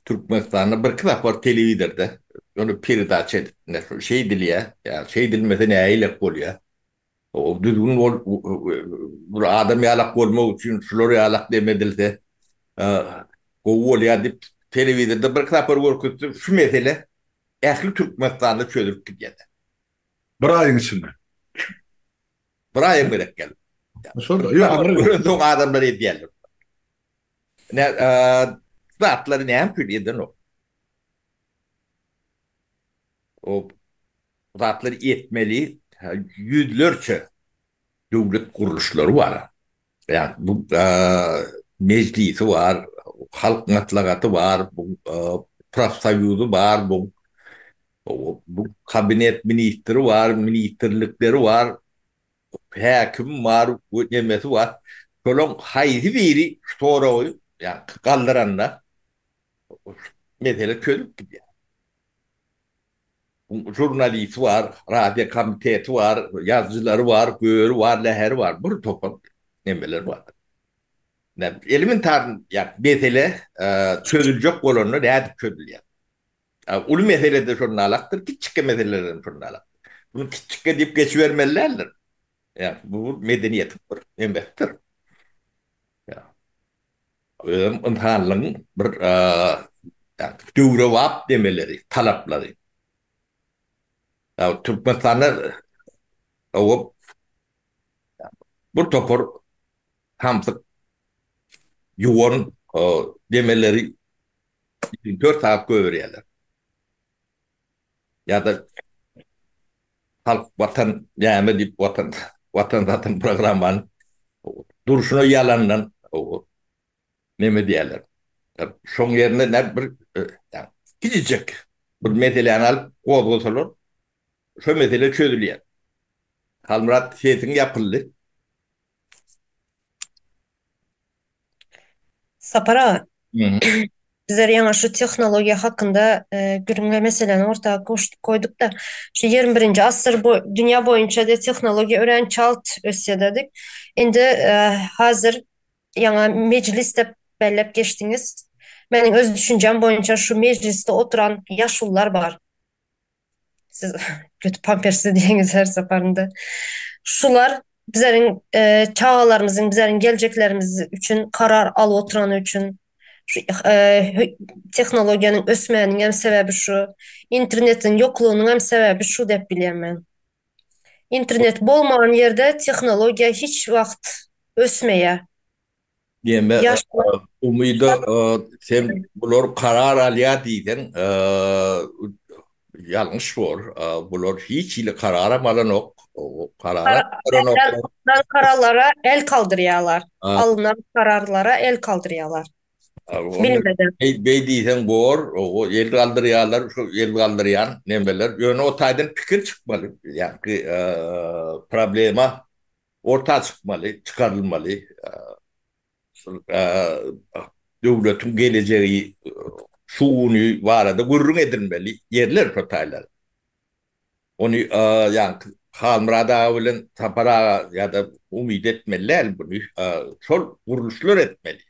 Türkmenistanda birki sapar telewizorda ony peredaça edipdiler. Şol şeý edilýär. Ýa şeý edilmese näileik bolýar. Ol düzgün ol bir adam ýalak bolmak üçin şular ýalak dem edilse gowy bolýar diýip telewizorda birki sapar görkezse şu mesele ähli Türkmenistanda çözülip gidýädi. Bir aýyň içinde. Bir aýam gerek geldi. Şol-da. Ýa habar. Ýöne soň adamlar edýärler. Ine, zatlary näme üçin edenok? O zatlary etmeli ýüzlerçe döwlet gurluşlary bar. Ýagny bu Mejlisi bar, Halk Matlagaty bar, bu profsoýuzy bar, bu bu Kabinet ministri bar, ministrlikleri bar. Häkim bar we nemesi bar. Şolaň haýsy biri şu soragy ýa-ni galdyranda mesele çözülip gidýär. Buň žurnalisti bar, radio komiteti bar, ýazyjylary bar, göri bar, läheri bar, bir topar nemeler bar. Elementar ýa-ni mesele çözüljek bolanda nädip çözülýär? Uly mesele-de şol nalakdyr, kiçjikkä meseleler hem şol nalakdyr. Bunu kiçjikkä diýip geçibermeli däldir. Bu medeniýetiň bir emesidir. Özem ynsanlygyň bir döwrebap nemeleri, talaplary. Türkmenistanda sowup bir topar samsyk ýuwan demeleri Üçin dört sagat gögerýärler. Ýa-da Halk Watan näme diýip Watan Watan Watan programmanyň durşuna ýalandan näme diýerler. Şoň ýerine nädip bir kiçijek bir meseläni alyp gozgasalar şo mesele çözülýär. Halmyrat sesiň ýapyldy. Sapar aga, bizler ýaňy şu tehnologiýa hakynda gürrüňe meseläni orta goýduk-da, şu ýigrimi birinji asyr bu dünýä boýunça-da tehnologiýa örän çalt ösýär-de diýip, indi häzir ýaňy mejlis diýip belläp geçdiňiz. Meniň öz düşünjäm boýunça şu mejlisde oturan ýaşulular bar. Siz kötü pampersli diýeniz her saparynda. Şular bizleriň e, çagalarymyzyň, bizleriň geljeklerimiz üçin karar alyp oturany üçin şu e, tehnologiýanyň ösmäniniň hem sebäbi şu, internetiň ýoklugynyň hem sebäbi şu diýip bilýän men. Internet bolmagan ýerde tehnologiýa hiç wagt ösmeýär. Diýende Umyda sen bular karar alýar diýseň ýalňyş bor. Bular hiç hili kararam alanok. Alnan kararlara el kaldyrýarlar. Alnan kararlara el kaldyrýarlar. Beý diýseň bor. El galdyrýarlar. Şu el galdyrýan nemeler. Ýöne o taýdan pikir çykmaly. Ýagny problema orta çykmaly, çykarylmaly, döwletiň gelejegi şu güni barada gürrüň edilmeli ýerler şo taýlar. Ony ýaňky Halmyrat aga bilen Sapar aga ýa-da umyt etmeli däl buny, şol gurluşlar etmeli.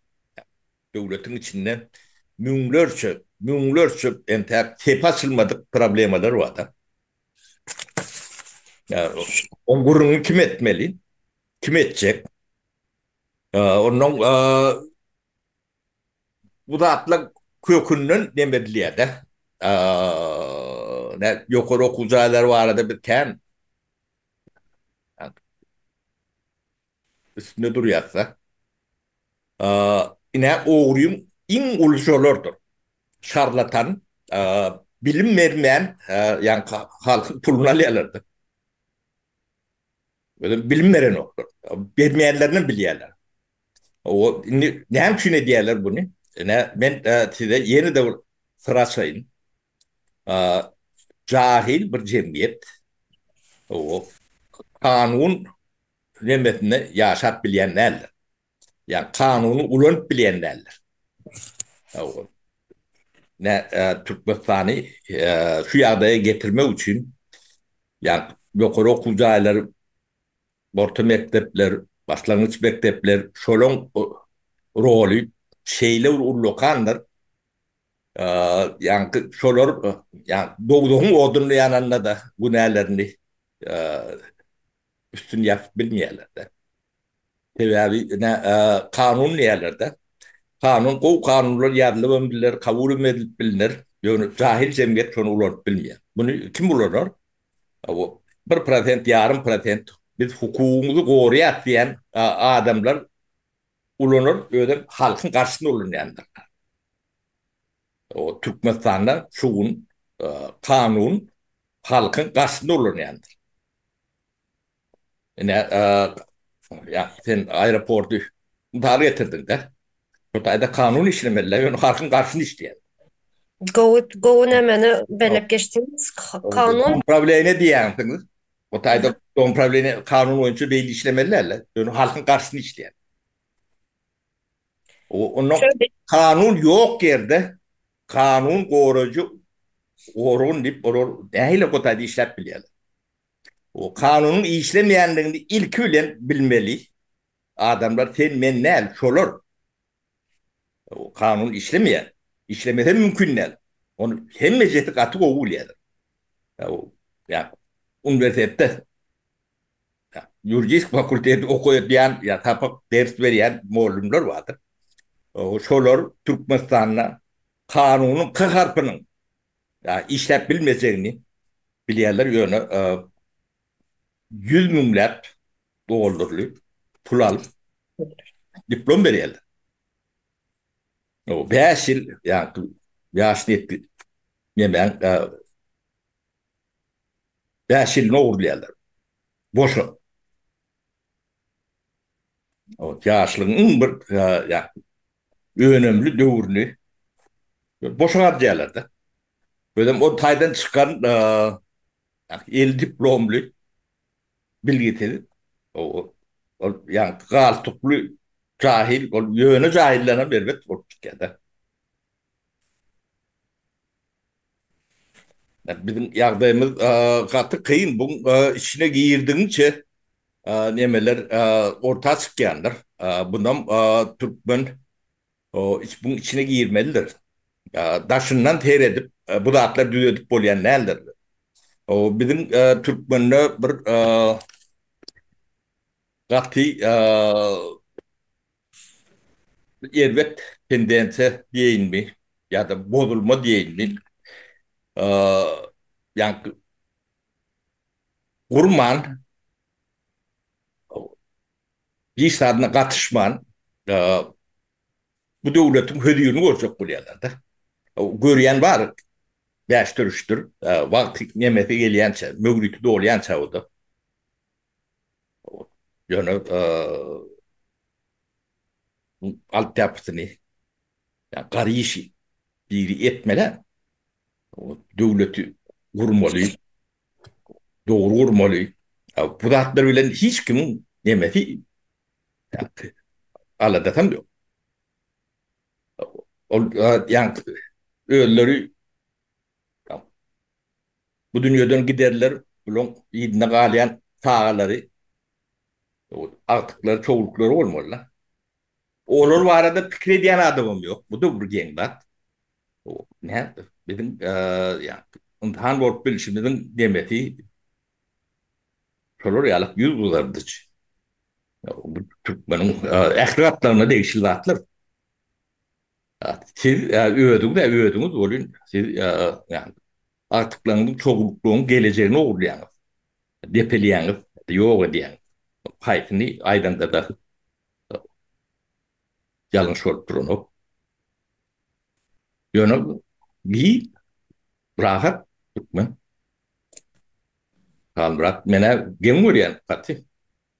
Döwletiň içinde müňlerçe, müňlerçe entäk sepä açylmadyk problemalar bar-da. Ýa-da oň gürrüňini kim etmeli? Kim etjek? Onnoň bu zatlar kökünden neme edilýär-de. Ýokary okuw jaýlary barada biz kän. Üstünde durýasda. Ine ogryň iň uly şolardyr. Şarlatan, bilim bermän ýan halkyň puluny alýalarda. Özem bilim berenoklar. Bermeýänlerinem bilýäler. Indi näme üçin edýäler buny? Ine men size ýene-de bir syr açaýyn. Jahyl bir jemgyýet. Kanun Hemmesinde ýaşap bilýän däldir. Ýa kanuny ulanyp bilýän däldir. Nä Türkmenistany şu ýagdaýa getirmek üçin ýa-ni ýokary okuw jaýlary, orta mekdepler, başlangyç mekdepler şolaň roly şeýle bir ullakandyr. Ýa-ni şolar ýa-ni dowzahyň odunda ýananda-da günälerini Üstüni ýapyp bilmeýärler-de. Sebäbi ine, kanun diýýärler-de. Kanun, gowy kanunlar ýazylybam biler, kabulem edilip bilner, ýöne jahil jemgyýet şony ulanyp bilmeýär. Muny kim ulanar? O, bir prosent, ýarym prosent, biz hukugyňyzy goraýas diýýän adamlar ulanar, özem halkyň garşysyna ulanýanlar. Türkmenistanda şu gün kanun halkyň garşysyna ulanýandyr. Ine, ýa, sen aeroporty mysal getirdiň-dä. Şu taýda kanun işlemeli-dä, ýöne halkyň garşyna işleýär. Gowy, gowy nämeni belläp geçdiňiz? Kanun. Domprawleniýe diýýänsiňiz. Bu taýda domprawleniýe kanun boýunça beýle işlemeli däl-dä, ýöne halkyň garşyna işleýär. Ondan kanun ýok ýerde Kanun goraýjy organ diýip olar nähili gutaýda işläp bilýärler? O kanunyň işlemeýändigini ilki bilen bilmeli adamlar sen men däl şolar. O kanun işlemeýär. Işlemese mümkin däl. Ony hemmejesi gaty gowy bilýärler. Ýa uniwersitetde Ýuridik fakulteti okadýan ýa sapak ders berýän mugallymlar bardyr. Şolar Türkmenistanda kanunyň k harpynyň işläp bilmejegini bilýärler, ýöne ýüz müňläp dollarly pul alyp diplom berýärler. Bäş ýyl ýaşyny ýetip nemäň Bäş ýylyn ogurlaýarlar. Boşa. Ot, ýaşlygyň iň bir önemli döwrüni boşa harjaýarlar-da. Özem o taýdan çykan eli diplomly, bilgisiz, ol ýaňky galtukly jahil, ol ýöne jahillerem erbet bolup çykýar-da. Biziň ýagdaýymyz gaty kyn. Buň içine girdigiňçe nemeler orta çykýandyr. Bunam türkmen buň içine girmelidir. Daşyndan seredip bu zatlar düzedip bolýan däldir. Biziň türkmende bir gaty Biz erbet tendensiýa diýeýinmi ýa-da bozulma diýeýinmi, ýaňky gurman, hiç zadyna gatyşman bu döwletiň hözirini görjek bolýarlar-da. Görýän bar, bäşdir-üçdir. Wagty, nemesi gelýänçä, möhleti dolýança o-da. Ýöne altyapysyny, ýa gary işi diri etmele, döwleti gurmaly, dogry gurmaly. Bu zatlar bilen hiç kimiň nemesi, aladasam ýok. Ol özleri Bu dünýeden giderler, bulaň yzyna galýan çagalary, agtyklary, çowluklary bolmaly-da. Olar barada pikir edýän adamam ýok. Bu-da bir geň zat. Nätdi? Biziň ynsan bolup bilşimiziň nemesi şolar ýaly ýüzgyzardyjy. Bu türkmeniň ähli gatlagyna degişli zatlar. Siz özüňiz-ä özüňiz welin, siz ýagny agtyklaryňyzyň, çowluklygyň gelejegini ogurlaýaňyz, depelýäňiz, ýok edýäňiz. Haýsyny aýdanda-da ýalňyş bolup duranok. Ýöne bi rahat türkmen. Halmyrat, men-ä geň görýän gaty.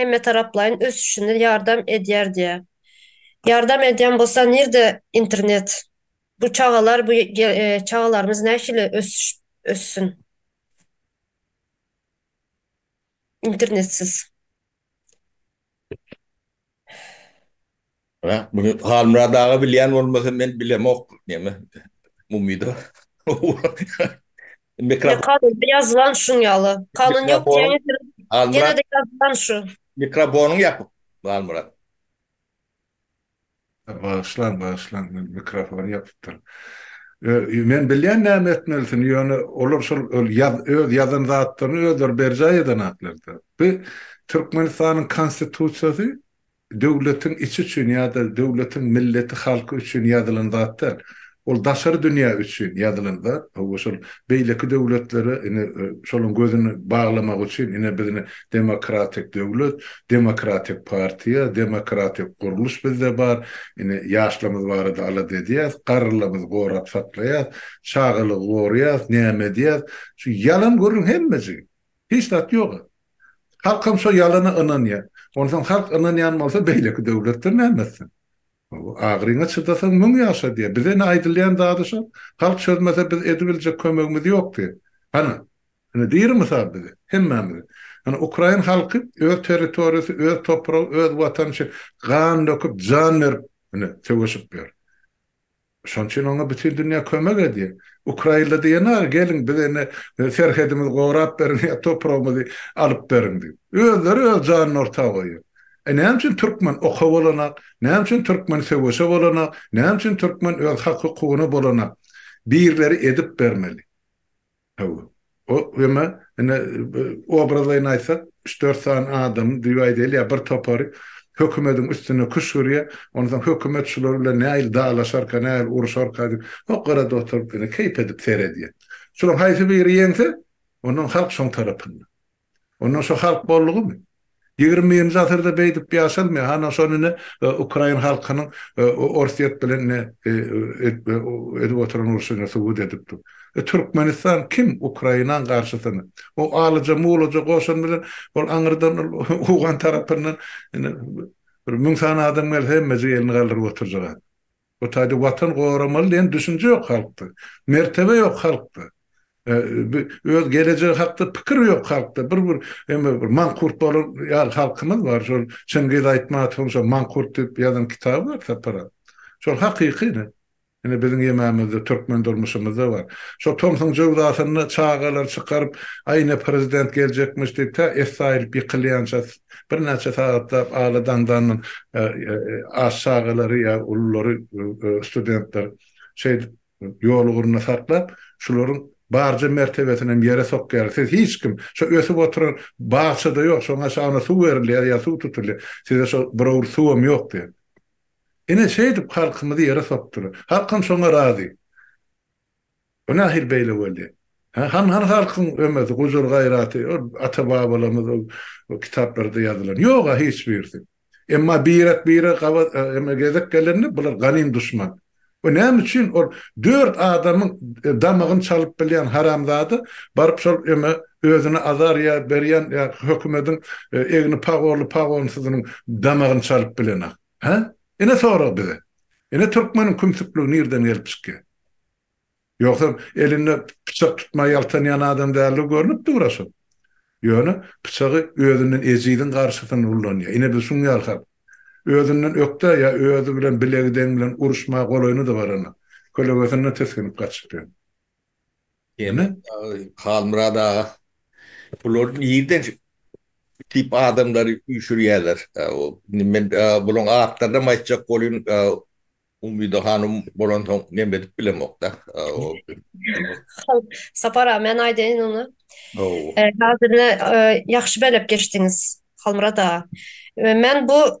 Hemmetaraplaýyn ösüşine ýardam edýär diýýär. Ýardam edýän bolsa nirde internet? Bu çagalar bu çagalarymyz nähili ösüşip össün? Internetsiz. Hä, muny Halmyrat aga bilýän bolmasa, men bilemok, näme, umyda. Ýa kanunda ýazylan şuň ýaly. Kanun ýok diýäňiz, ýene-de ýazylan şu. Mikrofonyňy ýapyp, Halmyrat. Bagyşlaň, bagyşlaň, men mikrofony ýapypdyryn. Men bilýän näme etmelisini, ýöne olar şol öz ýazan zatlaryny özleri berjaý eden zatlar-da. Bu Türkmenistanyň Konstitusiýasy döwletiň içi üçin ýa-da döwletiň milleti, halky üçin ýazylan zat däl. Ol daşary dünýä üçin ýazylan zat. Hawa, şol beýleki döwletlere ine, şolaryň gözüni baglamak üçin ine biz ine demokratik döwlet, demokratik partiýa, demokratik gurluş bizde bar, ine ýaşlarymyz barada alada edýäs, garrylarymyzy gorap saklaýas, çagalygy goraýas, näme edýäs. Şu ýalan gürrüň hemmejigi. Hiç zat ýoga. Halkam şo ýalana ynanýa. Onsoň halk ynanýan bolsa beýleki döwletden näme etsin. Agyryňa çydasaň müň ýaşa diýä. Bize ine aýdylýan zady şo. Halk çözmese biz edibiljek kömegimiz ýok diýä. Hany. Ine diri mysal bize. Hemmämize. Hany ukrain halky öz territoriýasy, öz topragy, öz watany üçin gan döküp, jan berip ine söweşip ýör. Şonuň üçin oňa bütin dünýä kömek edýär. Ukrainli diýenok ki, geliň bize indi serhedimizi gorap beriň ýa topragymyzy alyp beriň diýip. Özleri öz janyny orta goýýar. E näme üçin türkmen oka bolanak, näme üçin türkmen söweşe bolanak, näme üçin türkmen öz hak-hukugyna bolanak? Birileri edip bermeli. Hawa. O, emma, ine, obrazlaýyn aýtsak, üç-dört sany adamy düýbi aýdaýly ýa bir topary hökümediň üstüne küşgürýär, ondan soň hökümet şular bilen nähili dalaşarka, nähili uruşarka diýip, o gyrada oturyp, ine, keýp edip seredýär. Şularyň haýsy biri ýeňse, ondan halk şoň tarapynda. Onda şo halk boldugymy? Ýigrimi birinji asyrda beýdip ýaşalmaýar. Hany şony ine ukrain halkynyň Orsýet bilen ine edip oturan urşuny subut edip dur. E Türkmenistan kim Ukrainaň garşysyna? O alyja mulaja goşun bilen ol aňyrdan ol owgan tarapyndan ine bir müň sany adam gelse hemmejik elini galdyryp oturjak adam. Bu taýda Watan goramaly diýen düşünje ýok halkda. Mertebe ýok halkda. Öz gelejegi hakda pikir ýok halkda. Bir bir eme bir mankurt bolan ýaly halkymyz bar. Şol Çingiz Aýtmatowyň şo Mankurt diýip ýazan kitaby bar Sapar aga. Şol hakyky ine. Ine biziň ýememizde türkmen durmuşymyzda bar. Şo tomsuň jöwzasynda çagalary çykaryp, aý ine prezident geljekmiş diýip tä essaýylyp ýykylýança Birnäçe sagatlap aly daňdandan aç çagalary ýa ululary studentler şeýdip ýolugrunda saklap, şularyň barja mertebesinem ýere sokýarlar. Siz hiç kim, şo ösüp oturan bagça-da ýok, şoňa çaga ony suw berilýär ýa suw tutulýar. Size şo bir owurt suwam ýok diýip. Ine şeýdip halkymyzy ýere sokdular. Halkam şoňa razy. Bu nahili beýle boldy? Hä, han hany halkyň ömesi, gujur gaýraty, ol ata-babalarymyz ol kitaplarda ýazylan. Ýog-a hiç birisi. Emma birek-birege gabat, eme, gezek gelende bular ganym duşman. We näme üçin ol dört adamyň damagyny çalyp bilýän haramzada baryp şol, eme, özüne azar ýa berýän ýa hökümediň egni pagorly-pagornsyzynyň damagyny çalyp bilenak? Hä? Ine sorag bize. Ine türkmeniň kümsükligi nirden gelip çykýar? Ýogsam elinde pyçak tutmaý ýaltanýan adam däldir görnüp dur-a şol. Ýöne pyçagy özünden ejiziň garşysynda ullanýar. Ine biz şuň ýaly halk. Özünden ökde ýa özi bilen bilegi deň bilen uruşmaga golaýyny-da barana. Kölegesinden tisginip gaçyp ýör. Ýene Halmyrat aga bular nirden diýip adamlary üýşürýärler. Men bularyň atlarynam aýtjak bolýyn. Umyda hanym bolansoň neme edip bilemok-da. Sapar aga men aýdaýyn onda. Häzir ine ýagşy belep geçdiňiz Halmyrat aga. Men bu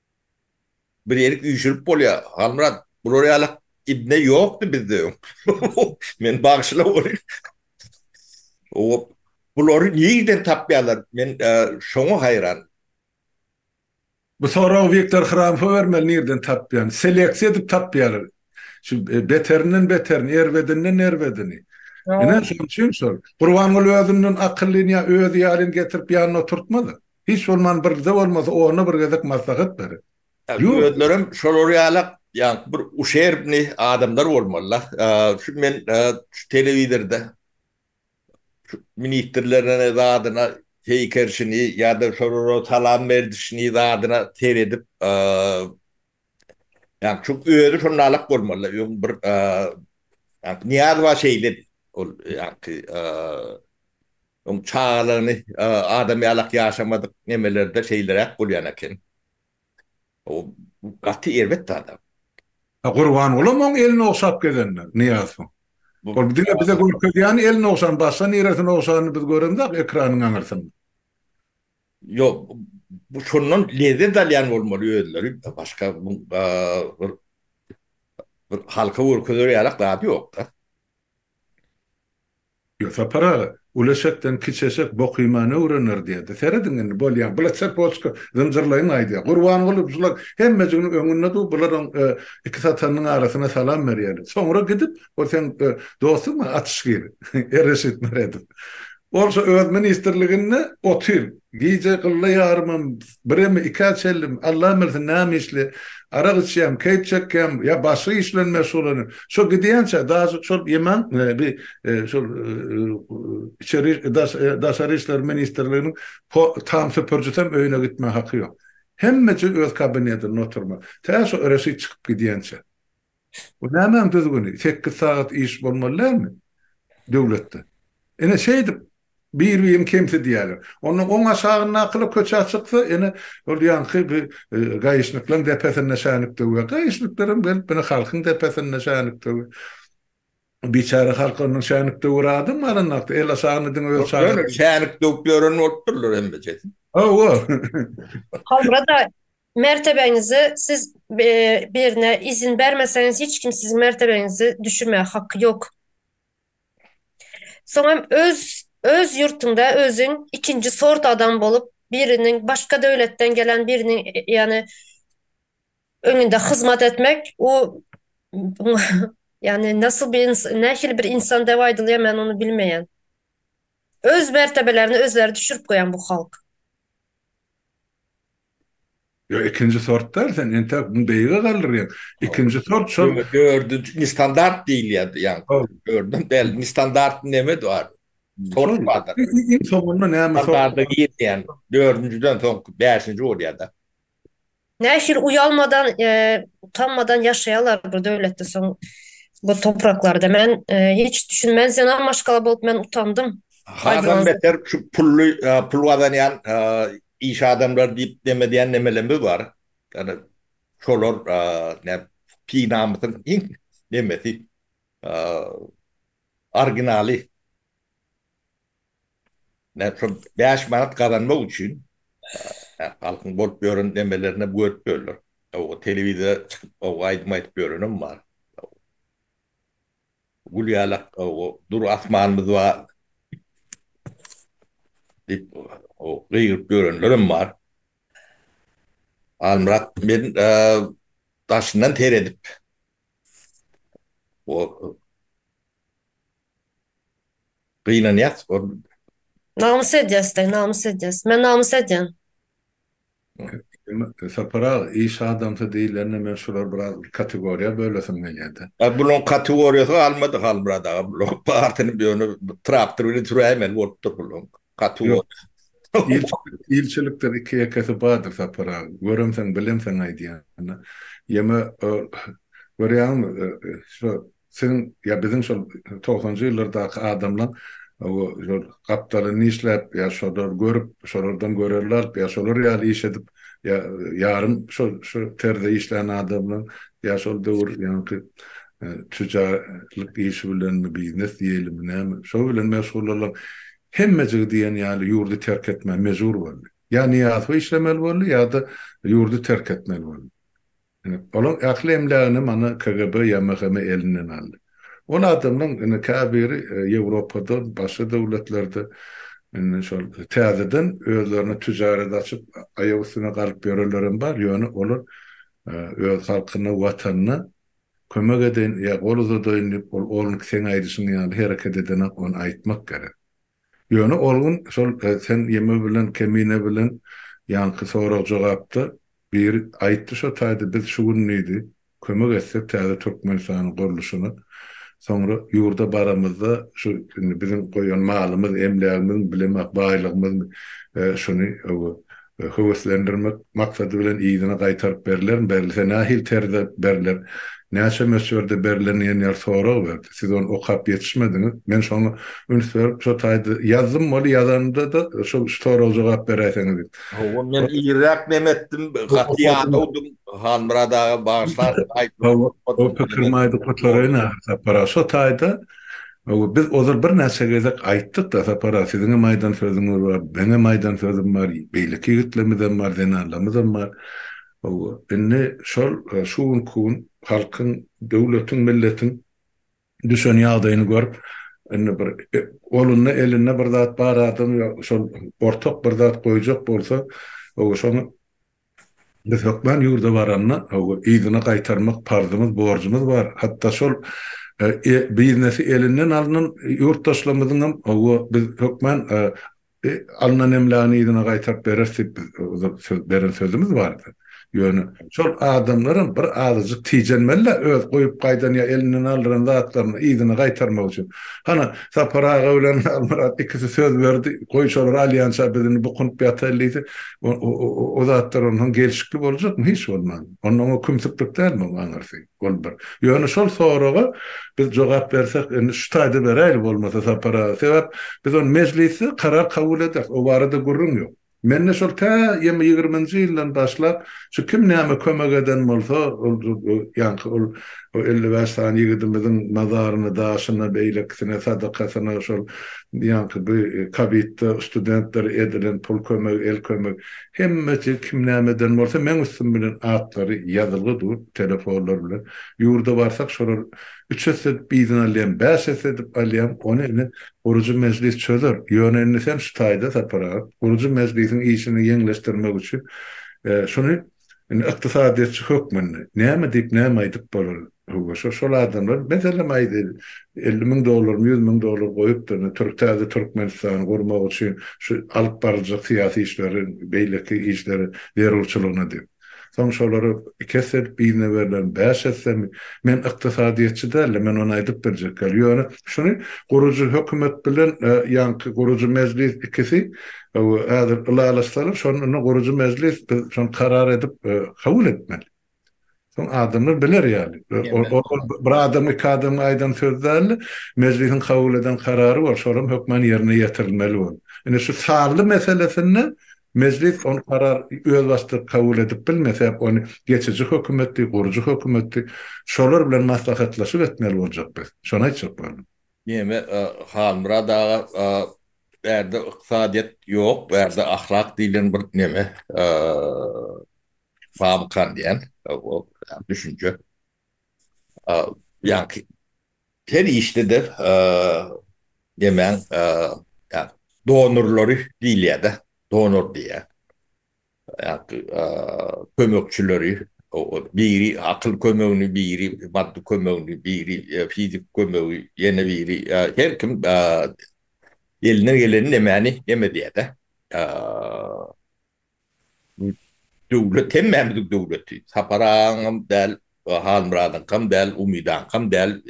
Bir erik üýşürip bolýa Halmyrat bular ýaly ibne ýokdy bizde öň meni bagyşla welin bulary nirden tapýarlar men şoňa haýran. Bu soragy Wiktor Hramfa bermeli nirden tapýan. Seleksiýa edip tapýarlar. Şu beterinden beterini, erbedinden erbedini. Ine şonuň üçin şol. Gurbanguly özünden akyllyny ýa özi ýalyny getirip ýanyna oturtmaz. Hiç bolman birde bolmasa ona bir gezek maslahat ber. Ýok. Özlerem şolar ýalak ýaňky bir uşerbny adamlar bolmalyda. Şu men şu telewizorda şu ministrlerine zadyna heýkerşini ýada şolara salam berdişini zadyna seredip ýaňky şu özi şonalak bolmalyda öň bir ýaňky Nyýazowa şeýledi ol ýaňky Öň çagalaryny adam ýalak ýaşamadyk nemelerde şeýleräk bolýan eken. Ol gaty erbet zada. A Gurbangulam oň elini ogşap gezendir Nyýazowyň. Ol diňe bize görkezýäni elini ogşan, başga niresini ogşanyny biz göremzok ekranyň aňyrsynda. Ýok, bu şondan lezzet alýan bolmaly özleri, başga bir bir halka görkezer ýalak zady ýok-da. Ýo, Sapar aga, uly eşekden kiçi eşek bok iýmany öwrener diýerdi. Serediň indi, bolýa, bula çerpoçka zynjyrlaýyň aýdýa. Gurbanguly şular hemmejiginiň öňünde dur, bularyň iki satanynyň arasyna salam berýäli. Soňra gidip, ol seň dostuňmy, Açyşgir? E, Reşit Meredow. Ol şo öz ministrliginde otyr. Gije gylla ýarymam Birem ikä çenlim, Allam bilsin näme işli, arak içýäm, keýp çekýäm, ýa başga iş bilen meşgullanýan. Şo gidýänçä, daşy çorp ýemän, bi şol içeri daş daşary işler ministrliginiň po tam süpürjisem öýüne gitmä haky ýok. Hemmeje öz kabinetinde oturma. Tä şo Reşit çykyp gidýänçä. Bu nämäň düzgüni, sekiz sagat iş bolmaly dälmi döwletde? Ine, şeýdip, bir-birini kemsidýärler. Onda oň aşagyndakylar köçä çyksa, ine, ol ýaňky bi gaýyşnyklaň depesinde şänik döwýär. Gaýyşnyklar hem gelip, ine, halkyň depesinde şänik döwýär. Biçäre halk ondan şänik döwer adam alanakda, el aşagynda diňe öz çagasyny. Ýok, ýöne şänik döwüp ýören bolupdyrlar hemmejesi. Hawa. Halra-da Mertebeňizi siz birine izin bermeseňiz hiç kim siziň mertebeňizi düşürmäge haky ýok. Soň hem öz öz ýurtuňda özüň ikinji sort adam bolup biriniň başga döwletden gelen biriniň ýany öňünde hyzmat etmek u ýany nasyl bir ynsan nähili bir ynsan dep aýdylýar men ony bilmeýän. Öz mertebelerini özleri düşürip goýan bu halk. Ýok ikinji sort däl sen entäk muny beýige galdyrýaň ikinji sort şol dördünji ne standart diýilýär ýa dördün däl ne standart neme bar sort bar iň soňunda näme sort diýýän dördünjiden soňky bäşinji bolýar da. Nähili uýalmadan utanmadan ýaşaýarlar bir döwletde soň bu topraklarda men hiç düşünmän zenan maşgala bolup men utandym. Hadan beter şu pully pul gazanýan Iş adamlary diýip dem edýän nemelerimiz bar. Ýöne şolar näm py namysyň iň nemesi originaly. Näm şol bäş manat gazanmak üçin halkyň bolup ýören nemelerinem görüp ýörler. Telewizora çykyp aýdym aýdyp ýörenem bar. Gül ýalak dur asmanymyz bar diýip gygyryp ýörenlerem bar. Halmyrat men daşyndan seredip gynanýas. Namys edýäs-de, namys edýäs. Men namys edýän. Sapar aga, iş adamsy diýilende men şulary biraz kategoriýa bölesim gelýärdi. A bulaň kategoriýasyny almadyk Halmyrat aga, bulaň barysyny ýöne traktor bilen süräýmeli bolupdyr bulaň kategoriýasyny. Ýok, ilçilikdir iki-ýekesi bardyr Sapar aga, göremseň, bilemseň aýdýan. Ýeme, görýäňmi, şo Siziň ýa biziň şol togsanjy ýyllardaky adamlaň şol gapdalyny işläp ýa şolary görüp, şolardan görelde alyp ýa şolar ýaly iş edip ýa ýarym şu terzde işlän adamlaň ýa şol döwür ýaňky tüjarlyk işi bilenmi, biznes diýeýlimi näme, şo bilen meşgul bolan hemmejigi diýen ýaly ýurdy terk etmä mejbur boldy. Ýa Nyýazow işlemeli boldy ýa-da ýurdy terk etmeli boldy. Olaň ähli emlägini mana KGB ýa MHM elinden aldy. Ol adamlaň indi käbiri Ýewropada başga döwletlerde indi şol täzeden özlerine tüjaret açyp aýak üstüne galyp ýörenlerem bar, ýöne olar öz halkyna, watanyna kömek edeýin ýa gol uzadaýyn diýip ol olnki seň aýdyşyň ýaly hereket edenok ony aýtmak gerek. Ýöne ol gün şol sen ýeme bilen kemine bilen ýanky sorag-jogapda biri aýtdy şo taýda biz şu gün diýdi kömek etsek täze Türkmenistanyň gurluşyna soňra ýurda baramyzda şu indi biziň goýan malymyz emlägimiz bilem ak baýlygymyz şuny we höweslendirmek maksady bilen yzyna gaýtaryp berilermi, berilse nähili terzde beriler, näçe möçberde beriler diýen ýaly sorag berdi. Siz ony okap ýetişmediňiz. Men şoňa üns berip, şo taýda ýazdym, weli ýazanymda-da şu soraga jogap beräýseňiz diýip. Hawa, men irräk näme etdim, gaty ýadawdym, Halmyrat aga bagyşlarsyň aýtmadygymy. Hawa, o pikirimi aýdyp gutaryna, Sapar aga, şo taýda Hawa, biz ozal birnäçe gezek aýtdyk-da, Sapar aga, siziňem aýdan sözüňiz bar, meňem aýdan sözüm bar, beýleki ýigitlerimizem bar, zenanlarymyzam bar. Hawa, indi şol şu günki gün halkyň, döwletiň, milletiň düşen ýagdaýyny görüp, indi bir golunda, elinde bir zat bar adam ýa şol ortak bir zat goýjak bolsa, hawa, şoňa Biz hökman ýurda baranda, yzyna gaýtarmak parzymyz, borjumyz bar. Hatda şol biznesi elinden alnan ýurtdaşlarymyzyň hem hawa, biz hökman alnan emlägini yzyna gaýtaryp bereris diýip, biz söz beren sözümiz bardy. Ýöne şol adamlar hem bir azajyk tijenmeli-dä öz goýup gaýdan ýa elinden aldyran zatlaryny yzyna gaýtarmak üçin. Hany, Sapar aga bilen Halmyrat ikisi söz berdi, goý, şolar alýança biz indi bukunyp ýataýyn diýse, O zatlar onsoň gelşikli boljakmy? Hiç bolmanda. Onda oňa kümsüklik dälmi oň aňyrsy? Ol bir. Ýöne şol soraga biz jogap bersek, indi şu taýda beräýli bolmasa Sapar aga. Sebäp biz ony mejlisde karar kabul ederis. O barada gürrüň ýok. Mende şol tä ýygrimi-ýigriminji ýyldan başlap, şu kim näme kömek eden bolsa, ol ýaňky ol, Bu elli bäş sany ýigidimiziň mazaryna, daşyna, beýlekisine, sadakasyna şol ýaňky bu kobidde studentlere edilen pul kömegi, el kömegi, hemmesi kim näme eden bolsa, meň üstüm bilen atlary ýazylgy dur, telefonlar bilen. Ýurda barsak, şolar üç esse edip yzyna alýan, bäş esse edip alýan, ony indi guruji mejlis çözer. Ýöne indi sen şu taýda Sapar aga, guruji mejlisiň işini ýeňleşdirmek üçin şuny Indi ykdysadyýetçi hökmünde näme diýip, näme aýdyp bolar? Höwwa, şo, şol adamlar meselem aýdy, elli müň dollarmy, ýüz müň dollar goýupdyr, indi türk, täze Türkmenistany gurmak üçin şu alyp baryljak syýasy işleri, beýleki işleri zerurçylygyna diýip. Soň şolary iki esse edip birine berlermi, bäş essemi? Men ykdysadyýetçi däl-de, men ony aýdyp biljek däl. Ýöne şuny gurujy hökümet bilen ýaňky gurujy mejlis ikisi, Gowy, häzir ylalaşsalar, şonda indi gurujy mejlis biz şony karar edip, kabul etmeli. Soň adamlar biler ýaly. Bir adam, iki adamyň aýdan sözi däl-de, mejlisiň kabul eden karary bor, şol hem hökman ýerine ýetirilmeli bor. Indi şu sanly meselesinde mejlis ony karar özbaşdak kabul edip bilmez, sebäp ony geçiji hökümetdi, gurujy hökümetdi, şolar bilen maslahatlaşyp etmeli boljak biz. Şony aýtjak boldum. Neme Halmyrat aga bärde ykdysadyýet ýok bärde ahlak diýlen bir neme bamykan diýen düşünje ýaňky her işdede nemäň donurlary diýilýärde donor diýýär kömekçileri biri akyl kömegini biri maddy kömegini biri fizik kömegi ýene biri her kim elinden gelen nemeni neme edýärde döwlet hemmämiziň döwleti Sapar agaňam däl Halmyradyňkam däl Umydaňkam däl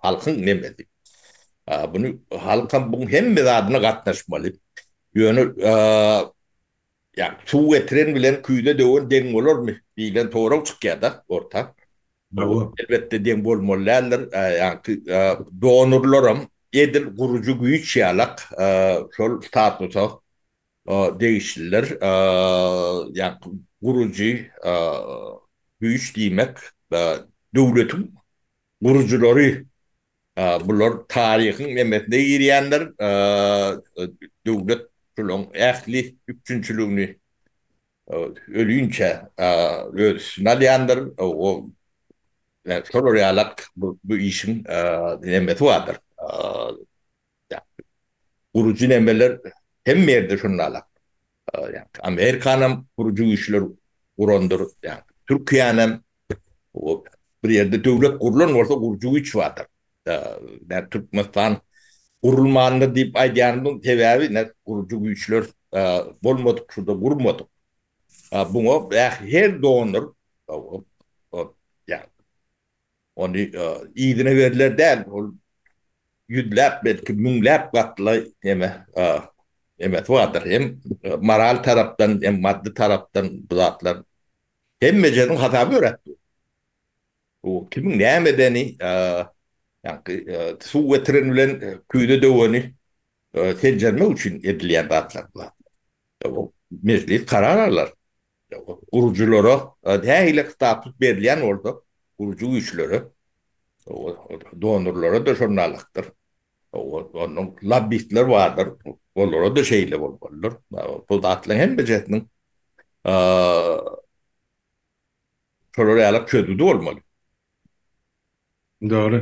halkyň nemesi muny halkam bu hemme zadyna gatnaşmaly ýöne Ýa suw getiren bilen küýze döwen deň bolarmy diýlen sorag çykýar-da orta. Bu elbetde deň bolmaly däldir. Ýagty donorlaram edil gurujy güýç ýalak şol statusa degişliler. Ýagty gurujy güýç diýmek döwletiň gurujylary, bular taryhyň emmesine girýänler, döwlet şolaryň ähli üpjünçiligini ölinçä öz üstüne alýandyr, şolar ýalak bu işiň emmesi bardyr. Gurujy nemeler hemme ýerde şunlala. Amerikanam gurujy güýçler gurandyr. Türkiýänem bir ýerde döwlet gurlan bolsa gurujy güýç bardyr. Türkmenistan gurulmandyr diýip aýdýanymyň sebäbi ne gurujy güýçler bolmadyk şurda gurmadyk. Muňa her doner Ony yzyna berler däl, ol ýüzläp, belki, müňläp gatly neme, nemesi bardyr. Hem moral tarapdan, hem maddy tarapdan bu zatlar hemmejeniň hasaby ýöräp dur. Bu kimiň näme edeni, ýaňky suw getiren bilen küýze döweni seljermek üçin edilýän zatlar bular. Mejlis karar alar. Gurujylara nähili status berilýän bolsa, gurujy güýçlere, donorlara-da şol nalykdyr. Onuň lobbistler bardyr, olara-da şeýle bolmalydyr. Bu zatlaryň hemmejesiniň şolara ýalak çözgüdi bolmaly. Dogry.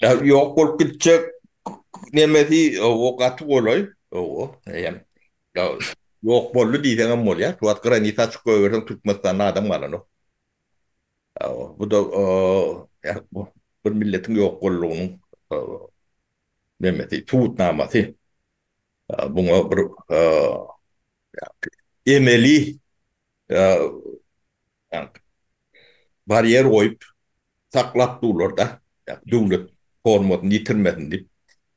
Ya yok bolup gidecek nemesi o gaty golay. O hem yok boldu diysen hem bolya. Şu at granita açık koyversen Türkmenistan'da adam galan o. Bu da bir milletin yok bolluğunun nemesi, subutnaması. Buna bir emeli Ýagny barýer goýup saklap durlar-da, ýagny döwlet formasyny ýitirmesin diýip.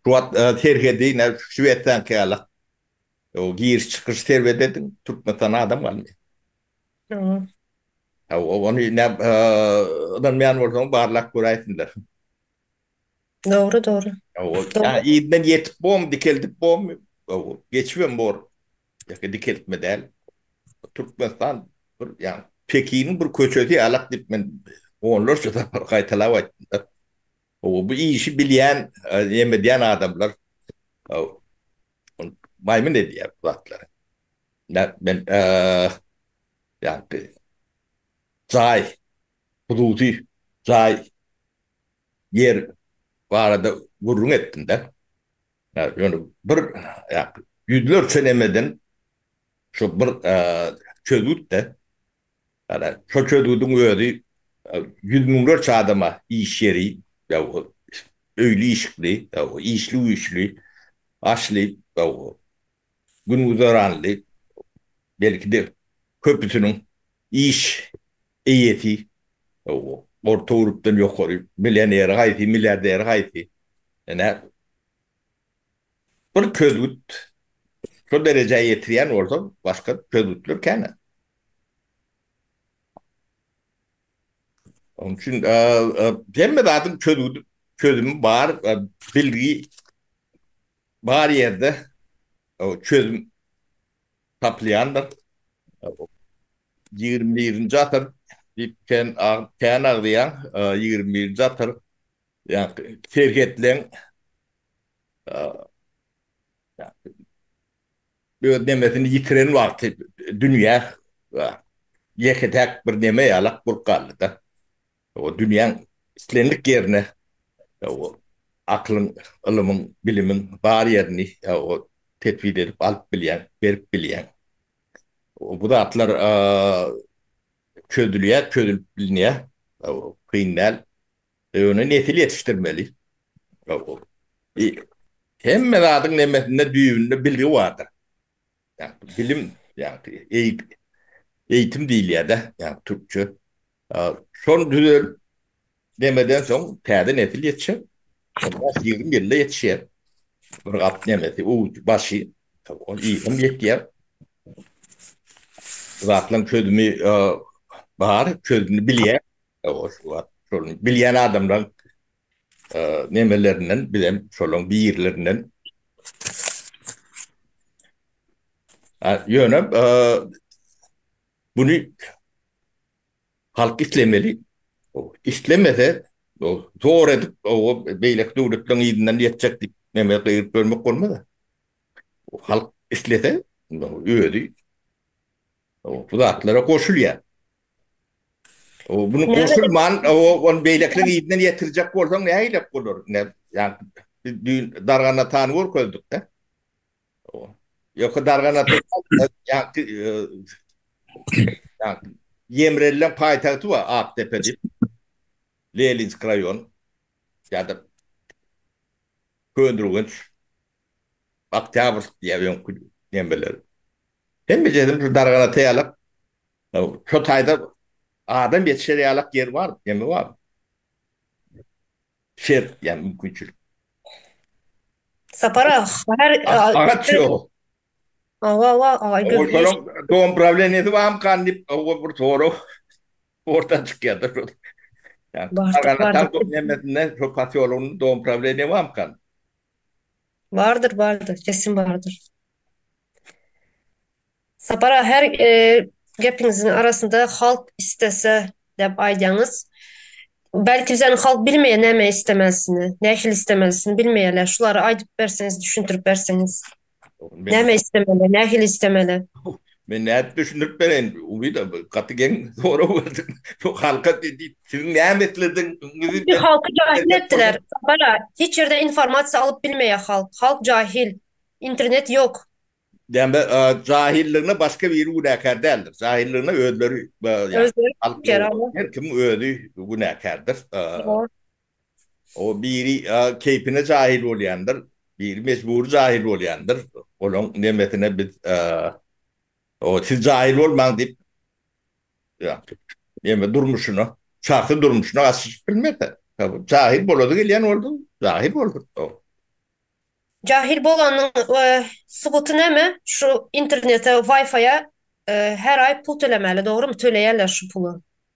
Şu wagt serhedi näme çüp-çüp etseňki ýaly-a. O giriş-çykyş serbet ediň, Türkmenistana adam galmaýar. Hawa. Hawa, ony näme ynanmaýan bolsaň barlap göräýsinler. Dogry dogry. Ýa yzdan ýetip bormy, dikeldip bormy? Gowy. Geçibem bor. Ýeke dikeltme däl. Türkmenistan bir ýaňy Pekiniň bir köçesi ýalak diýip men onlarça sapar gaýtalap aýtdym-da. Gowy bu işi bilýän, näme edýän adamlar maýmyn edýär bu zatlary. Nädip men ýaňky jaý, hususy jaý ýer barada gürrüň etdim-de, ýöne bir ýüzlerçe nämeden şu bir çözgüt-de, şol çözgüdiň özi ýüz müňlerçe adama iş ýeri, öýli-işikli, işli-güýçli, aşly, gün-güzeranly, belki-de köpüsiniň iş Eýesi, orta urupdan ýokary, millioneri haýsy, milliarderi haýsy, ine, bir çözgüt şo derejä ýetirýän bolsa, başga çözgütler kän. Onuň üçin hemme zadyň çözgüdi, çözümi bar, bilgi bar ýerde çözüm tapylýandyr. Ýigrimi birinji asyr diýip kän kän agzaýaň. Ýigrimi birinji asyr ýa-ni serhetleň öz nemesini ýitiren wagty dünýä ýeke-täk bir neme ýalak bolup galdy-da. Ol dünýäň islendik ýerine akylyň, ylymyň, bilimiň bar ýerini tesbit edip alyp bilýäň, berip bilýäň. Bu zatlar çözülýär, çözülip bilinýär. Kyn däl. Ýöne nesil ýetişdirmeli. Hemme zadyň nemmesinde, düýbünde bilgi bardyr. Ýagny bilim, ýagny eý eýitim diýilýär-dä, ýagny türkçe. Şony düzedip nemeden soň täze nesil ýetişer. Ýaş ýigrimi ýylda ýetişýär. Bir gap nemesi, uwujy, başy, ol ýygrimi ýetýär. Bu zatlaryň çözümi bar, çözümini bilýär. Ýa-da şuwagt şol bilýän adamlaryň nemelerinden bizem şolaryň birilerinden ýöne buny halk islemeli islemese zor edip beýleki döwletleriň yzyndan ýetjek diýip neme gygyryp ýörmek bolmaz halk islese özi O, bu zatlara goşulýar. O, bunu goşulman, o, onu beýlekileriň ýedinden ýetirjek bolsaň, nähilek bolar? Ne, ýagny, biz düýn dargan atany görkezdik-de. O, ýöka dargan ata, ýagny, ýagny, ýemrelilen paýtagty bar, Akdepe diýip, Leninsk raýon, ýa-da Köneürgenç, Oktýabrsk diýýär öňki nemeler. Hemme ýerim şu dargan ata ýalak. Şo taýda adam ýetişer ýalak ýer bar, neme bar. Şert ýa mümkinçilik. Sapar aga, şäher Agaç ýok. Hawa, hawa. Şonuň dom prawleniýesi barmykan diýip, oba bir sorag orta çykýar-da şol. Dargan ataň nemesinde, şo posýologynda dom prawleniýe barmykan? Bardyr bardyr kesin bardyr. Sapar aga her gepiňiziň arasynda halk istese dep aýdýaňyz. Belki bizäni halk bilmeýär näme istemelisini, nähili istemelisini bilmeýärler. Şulary aýdyp berseňiz, düşündirip berseňiz. Näme istemeli, nähili istemeli? Men nädip düşündirip bereýin? Umyda gaty geň sorag berdiň. Bu halka diýip, siziň näme isledigiňizi Şu halky jahil etdiler. Sapara, hiç ýerde informasiýa alyp bilmeýär halk. Halk jahil. Internet ýok. Dämbe, jahilligine başga biri günäkär däldir. Jahilligine özleri, ýa, halk, her kim özi günäkärdir. O biri keýpine jahil bolýandyr, biri mejbury jahil bolýandyr. Olaň nemesine biz o siz jahil bolmaň diýip neme durmuşyna, şahsy durmuşyna gaşyşyp bilmese. Jahil bolady gelýän boldy, jahil boldy. Jahil bolanyň subuty näme? Şu internete, waýfaýa her aý pul tölemäli, dogrymy? Töleýärler şu puly.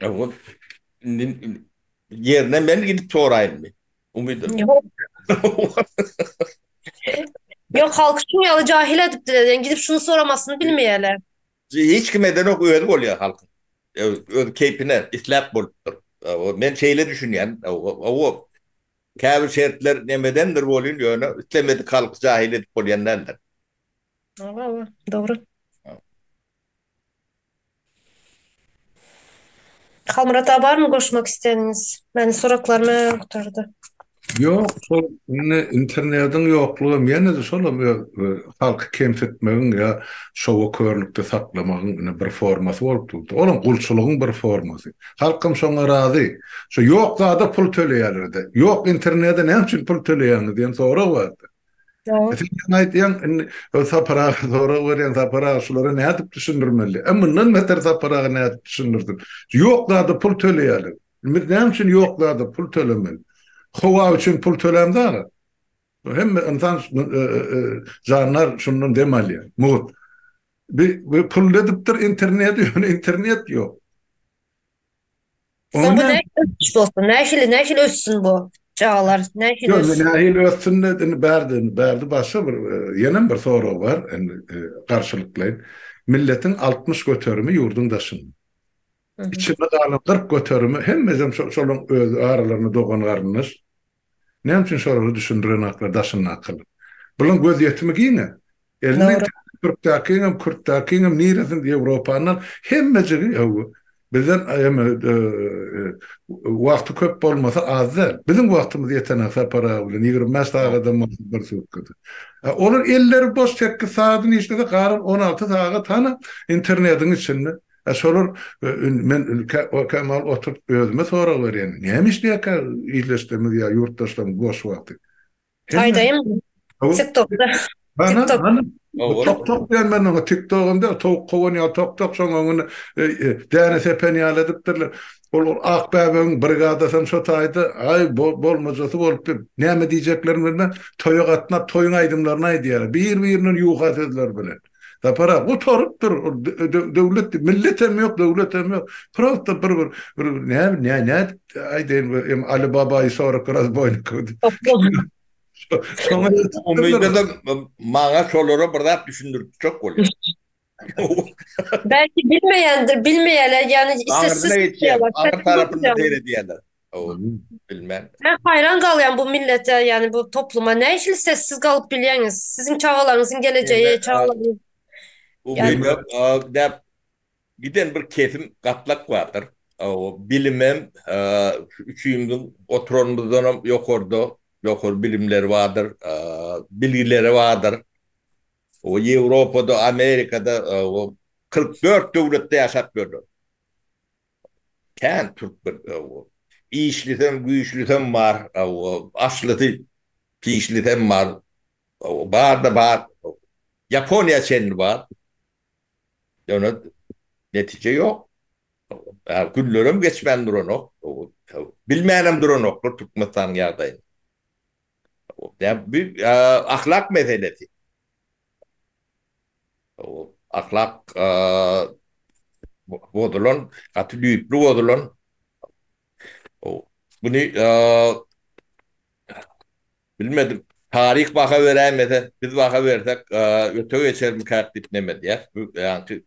Ýa-da indi ýerine men gidip soraýynmy? Umydyň. Ýok, halky şuň ýaly jahil edipdiler, ýa gidip şuny soramasyny bilmeýärler. Hiç kim edeňok, özi bolýar halkyň. Öz keýpine, isläp bolupdyr. Hawa, men şeýle düşünýän. Hawa, käbir şertler nemedendir bolýun, ýöne islemedik halky jahil edip bolýan däldir. Hawa, hawa, dogry. Halmyrat aga barmy goşmak isleýäniňiz? Meniň soraklarymy gutardy. Ýok, şol indi internediň ýoklugam ýene-de şolam öz halky kemsitmegiň ýa şowa körlükde saklamagyň indi bir formasy bolup durdy. Olam gulçulygyň bir formasy. Halkam şoňa razy. Şo ýok zada pul töleýärler-de. Ýok internede näme üçin pul töleýäňiz diýen sorag bardy. Dogry. Sen ýaňy aýtýaň, indi ol Sapar aga sorag berýän, Sapar aga şulara nädip düşündirmeli? A mundan beter Sapar aga nädip düşündirsin? Ýok zada pul töleýärler. Biz näme üçin ýok zada pul tölemeli? Howa üçin pul tölämde aga. Hemme ynsan jandar şundan dem alýar, mugt. Bi pul edipdir interneti, ýöne internet ýok. Onda ösüş bolsun. Nähili, nähili össün bu çagalar? Nähili össün? Ýok, nähili össün de, indi bärde, bärde başga bir, ýenem bir sorag bar, indi garşylyklaýyn. Milletiň altmyş göterimi ýurduň daşynda. Içinde galan kyrk göterimi hemmesem şo, şolaryň öz aralarynda dogan-garyndaş. Näme üçin şolary düşündirenoklar daşyndakylar? Bulaň göz ýetimi giňe. Elinden Dogry. türkdäkiňem, kürtdäkiňem niresini Ýewropany al, hemmejigi hawa. Bizden eme wagty köp bolmasa az däl. Biziň wagtymyz ýetene Sapar aga bilen ýigrimi bäş sagadam bolsa bir sutkada. A olar elleri boş sekiz sagadyny işlese galan on alty sagat hany internetiň içinde. A şolar indi men ilki okem al oturyp özüme sorag berýän näme işleýäkä ildeşlerimiz ýa ýurtdaşlarymyz boş wagty. Aýdaýyň tik tokda tik tok. Tok tok diýen men oňa tik togam däl towuk kowan ýaly tok tok şoň öňüne däne sepen ýaly edipdirler. Ol ak bäbegiň brigadasam şo taýda aý bolmajasy bolupdyr. Näme diýjeklerini bilmän toýa gatnap toýuň aýdymlaryny aýdýarlar. Bir birinden ýuka sözler bilen. Sapar aga gutarypdyr, döwlet, milletem ýok, döwletem ýok. Prosta bir bir bir näme näme aýdaýyn bu em Ali Babaýy sorak razboýnik. Şoňa umytdan maňa şolara bir zat düşündirjek bolýar. Belki bilmeýändir, bilmeýärler, ýagny isesiz. Aňyrsyna geçýär, aňyr tarapynda seýredýärler. Gowy bilmen. Men haýran galýan bu millete ýani bu topluma näçe sessiz galyp bilýäňiz siziň çagalaryňyzyň gelejeýi çagalaryň Bu bilme däp giden bir kesim gatlak bardyr. Gowy bilimem üçimiziň oturanymyzdanam ýokarda ýokary bilimleri bardyr bilgileri bardyr. Gowy Ýewropada Amerikada gowy kyrk dört döwletde ýaşap ýörler. Kän türkmen aw-ow. Işlisem, güýçlisem bar aw-ow. Aşlysy, pişlisem bar aw-ow. Barda bar aw-ow. Ýaponiýa çenli bar. Ýöne netije ýok aw-ow. Günlerem geçmän duranok aw-ow. Bilmänem duranoklar Türkmenistanyň ýagdaýyny. Bu ahlak meselesi. Ahlak bozulan, gaty düýpli bozulan. Muny bilmedim, taryh baha beräýmese, biz baha bersek öte geçermikäk diýip nem edýäs. Bu ýaňky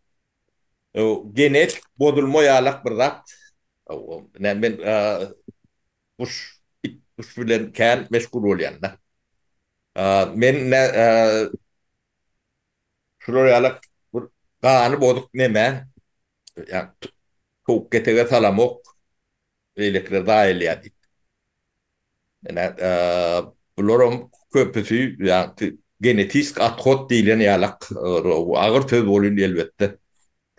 genetik bozulma ýalak bir zat. Men Guş it guş bilen kän meşgul bolýanda. Men ne şular ýalak bir gany bozuk neme ýa towuk ketege salamok beýlekiler zaýalýa diýip. Ine bularam köpüsi ýa genetisk othod diýlen ýalak agyr söz bolýn elbetde.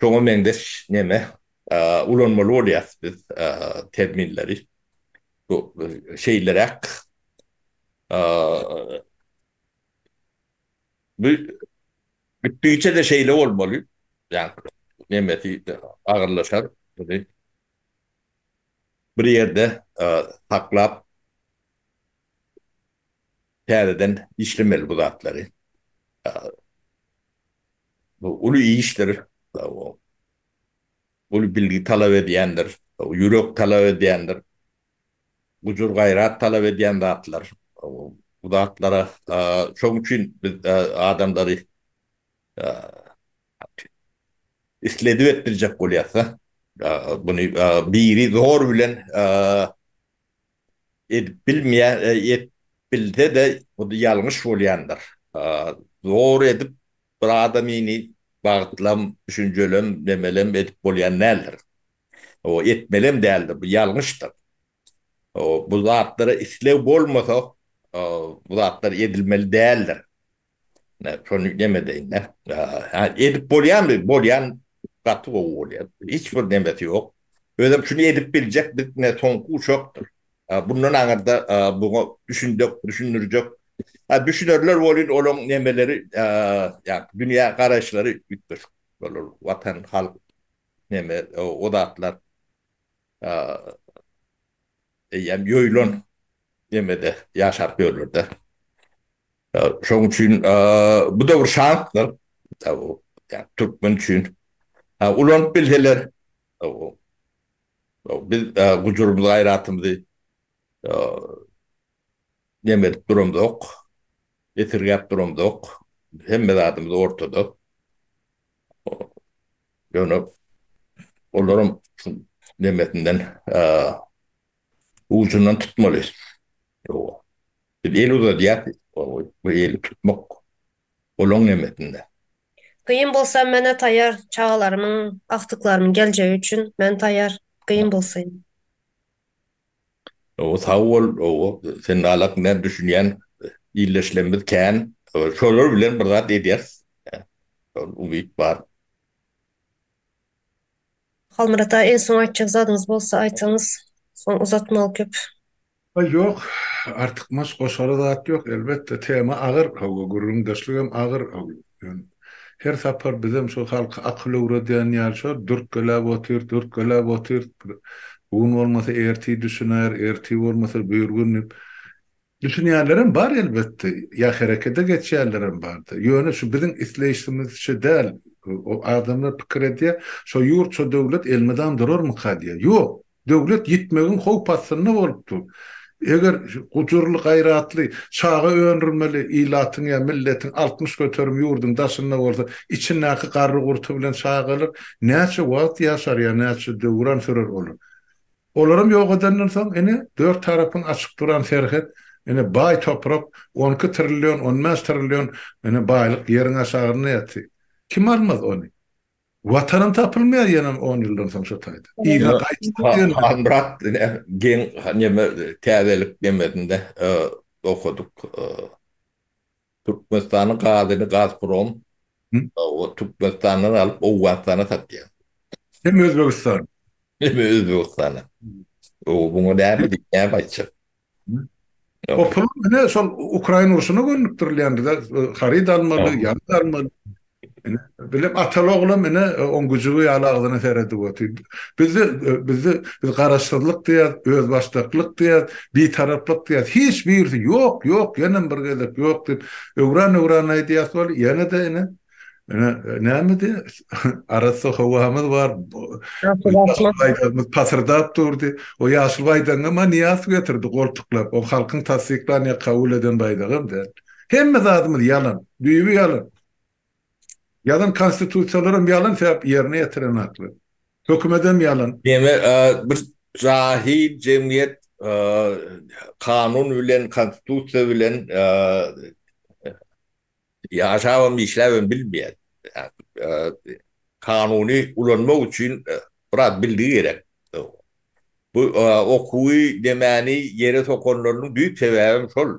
Şoňa meňzeş neme ulanmaly bolýas biz terminleri. Bu şeýleräk. Bu gitdigiçe-de şeýle bolmaly. Ýagny nemesi agyrlaşar. Muny bir ýerde saklap. Täzeden işlemeli bu zatlary. Bu uly işdir. Uly bilgi talap edýändir. Ýürek talap edýändir. Gujur-gaýrat talap edýän zatlar. Bu zatlara şoň üçin biz adamlary isledip etdirjek bolýas-da. Muny biri zor bilen Edip bilmeýän, edip bilse-de hut ýalňyş bolýandyr. Zor edip bir adamyny bagtlam, düşünjelem, nemelem edip bolýan däldir. Etmelem däldir, bu ýalňyşdyr. Bu zatlara isleg bolmasa, bu zatlar edilmeli däldir. Şony neme deýin-dä. Hä, edip bolýarmy? Bolýan gaty gowy bolýar. Hiç bir nemesi ýok. Özem şuny edip biljek bir ne soňky uşakdyr. Bundan aňyrda buňa düşünjek, düşündirjek. Hä, düşünerler welin olaň nemeleri, ýa dünýä garaýyşlary üýtgeşik bolar. Watan, halk, neme, o zatlar eýýäm ýoýulan nemede ýaşap ýörler-dä. Şoň üçin bu da bir şansdyr. Türkmen üçin ulanyp bilseler, biz gujurymyzy, gaýratymyzy neme edip duramzok, esirgäp duramzok. Hemme zadymyz ortada. Ýöne olaram şu nemesinden, ujundan tutmaly. Biz el uzadýas bu eli tutmak olaň nemesinde. Gyn bolsa menä taýar çagalarymyň agtyklarymyň geljegi üçin men taýar gyn bolsa. Owo sag bol owo sen nalak näme düşünýän illeşlemmiz kän şolar bilen bir zat edýäris şol umyt bar. Halmyrat aga iň soň aýtjak zadyňyz bolsa aýtyňyz soň uzatmaly köp. Haý ýok, artykmaç goşara zat ýok, elbetde tema agyr, hawa gürrüňdeşligem agyr, her sapar bizem şo halka akyl öwredýän ýaly şo dürtgeläp otyr, dürtgeläp otyr, bu gün bolmasa ertir düşüner, ertir bolmasa bir gün diýip, düşünýänlerem bar elbetde, ýa herekede geçýänlerem bardy, ýöne şu biziň isleýşimizçe däl, adamlar pikir edýär, şo ýurt, şo döwlet elmydam durarmyka diýýär, ýok, Döwlet ýitmegiň howp astynda bolup dur. Eger gujurly, gaýratly, çaga öndürmeli ilatyň ýa milletiň altmyş göterim ýurduň daşynda bolsa, içindäki garry-gurty bilen çagalar näçe wagt ýaşar ýa näçe döwran sürer olar? Olaram ýok edenden soň, ine, dört tarapyň açyk duran serhet, ine, baý toprak, on iki trillion, on bäş trillion, ine, baýlyk ýeriň aşagynda ýatyr. Kim almaz ony? Watanym tapylmaýar ýanan on ýyldan soň şo taýda. Yza gaýtdym diýen. Halmyrat ine geň neme täzelik nemesinde okadyk. Türkmenistanyň gazyny Gazprom Türkmenistandan alyp Owganystana satýar. Hem Özbegistana. Hem Özbegistana. Oba muňa näme diýip näme aýtjak. O pul ine şol Ukraina urşuna gönükdirilýän bize haryt almaly, ýarag almaly. Ine bilim ataly oglam ine oň güjügi ýaly agzyna seredip otyr. Bizde bizde biz garaşsyzlyk diýýäs, özbaşdaklyk diýýäs, bitaraplyk diýýäs. Hiç birisi ýok, ýok, ýenem bir gezek ýok diýip öwran-öwran aýdýas weli ýene-de ine Ene näme diye? Arassa howamyz bar. Pasyrdap durdy. O ýaşyl baýdagyňa ma niýas getirdi goltuklap. O halkyň tassyklan ýa kabul eden baýdagam däl. Hemme zadymyz ýalan. Düýbi ýalan. Ýalan konstitusiýalaram ýalan sebäp ýerine ýetiren akly. Hökümedem ýalan. Demek bir jahil jemgyýet kanun bilen konstitusiýa bilen Ýaşabam, işläbem bilmeýän. Kanuny ulanmak üçin biraz bildigi gerek. Bu okuwy, demäni ýere sokanlarynyň düýp sebäbem şol.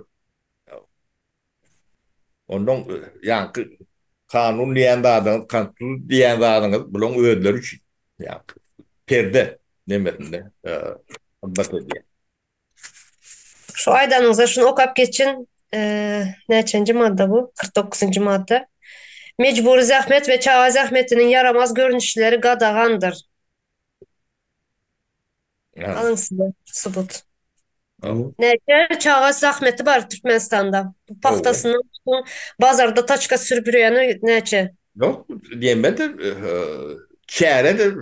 Onnoň ýaňky kanun diýýän zadyňyz, konstitusiýa diýýän zadyňyz bularyň özleri üçin. Perde nemesinde hyzmat edýär. Şu aýdanyňyza şuny okap geçiň. Näçenji madda bu? Kyrk dokuzynjy madda. Mejbury zähmet we çaga zähmetiniň ýaramaz görnüşleri gadagandyr. Alyň size subut. Näçe çaga zähmeti bar Türkmenistanda? Bu pagtasynyň tutuň bazarda taçka sürüp ýörýäni näçe? Ýok, diýemizde çäredir.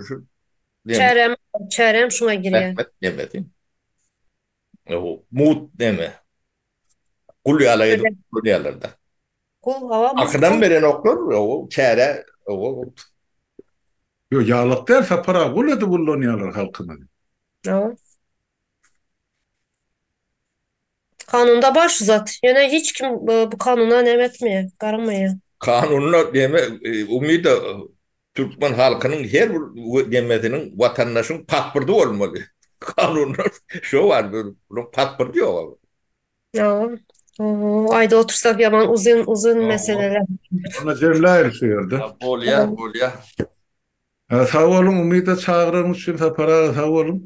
Deme. Çärem, çärem şuňa girýär. Rahmet deme sen. O mut deme. Gul ýala edip Ölen. görýärler-de. Gul, hawa, mut Akydan gul. berenoklar, o çäre, o Ýok, ýalak däl, Sapar aga, gul edip ullanýarlar halkymyzy. Hawa. Kanunda bar şu zat. Ýöne hiç kim bu kanuna näme etmeýär, garamaýar. Kanunda deme umyda türkmen halkynyň her bir demesiniň watandaşyň pasporty bolmaly. Kanunda şo bar bunuň pasporty ýoga. Ýoga. Oho aýdyp otursak ýaman uzyn uzyn meseleler. Onda jemläýeli şu ýerde. Bolýa bolýa. Sag boluň Umyda çagyraryňyz üçin Sapar aga sag boluň.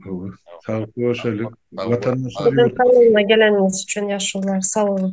Sag görşelik. Watandaşlar ýurt. Sag boluň geleniňiz üçin ýaşulular sag boluň.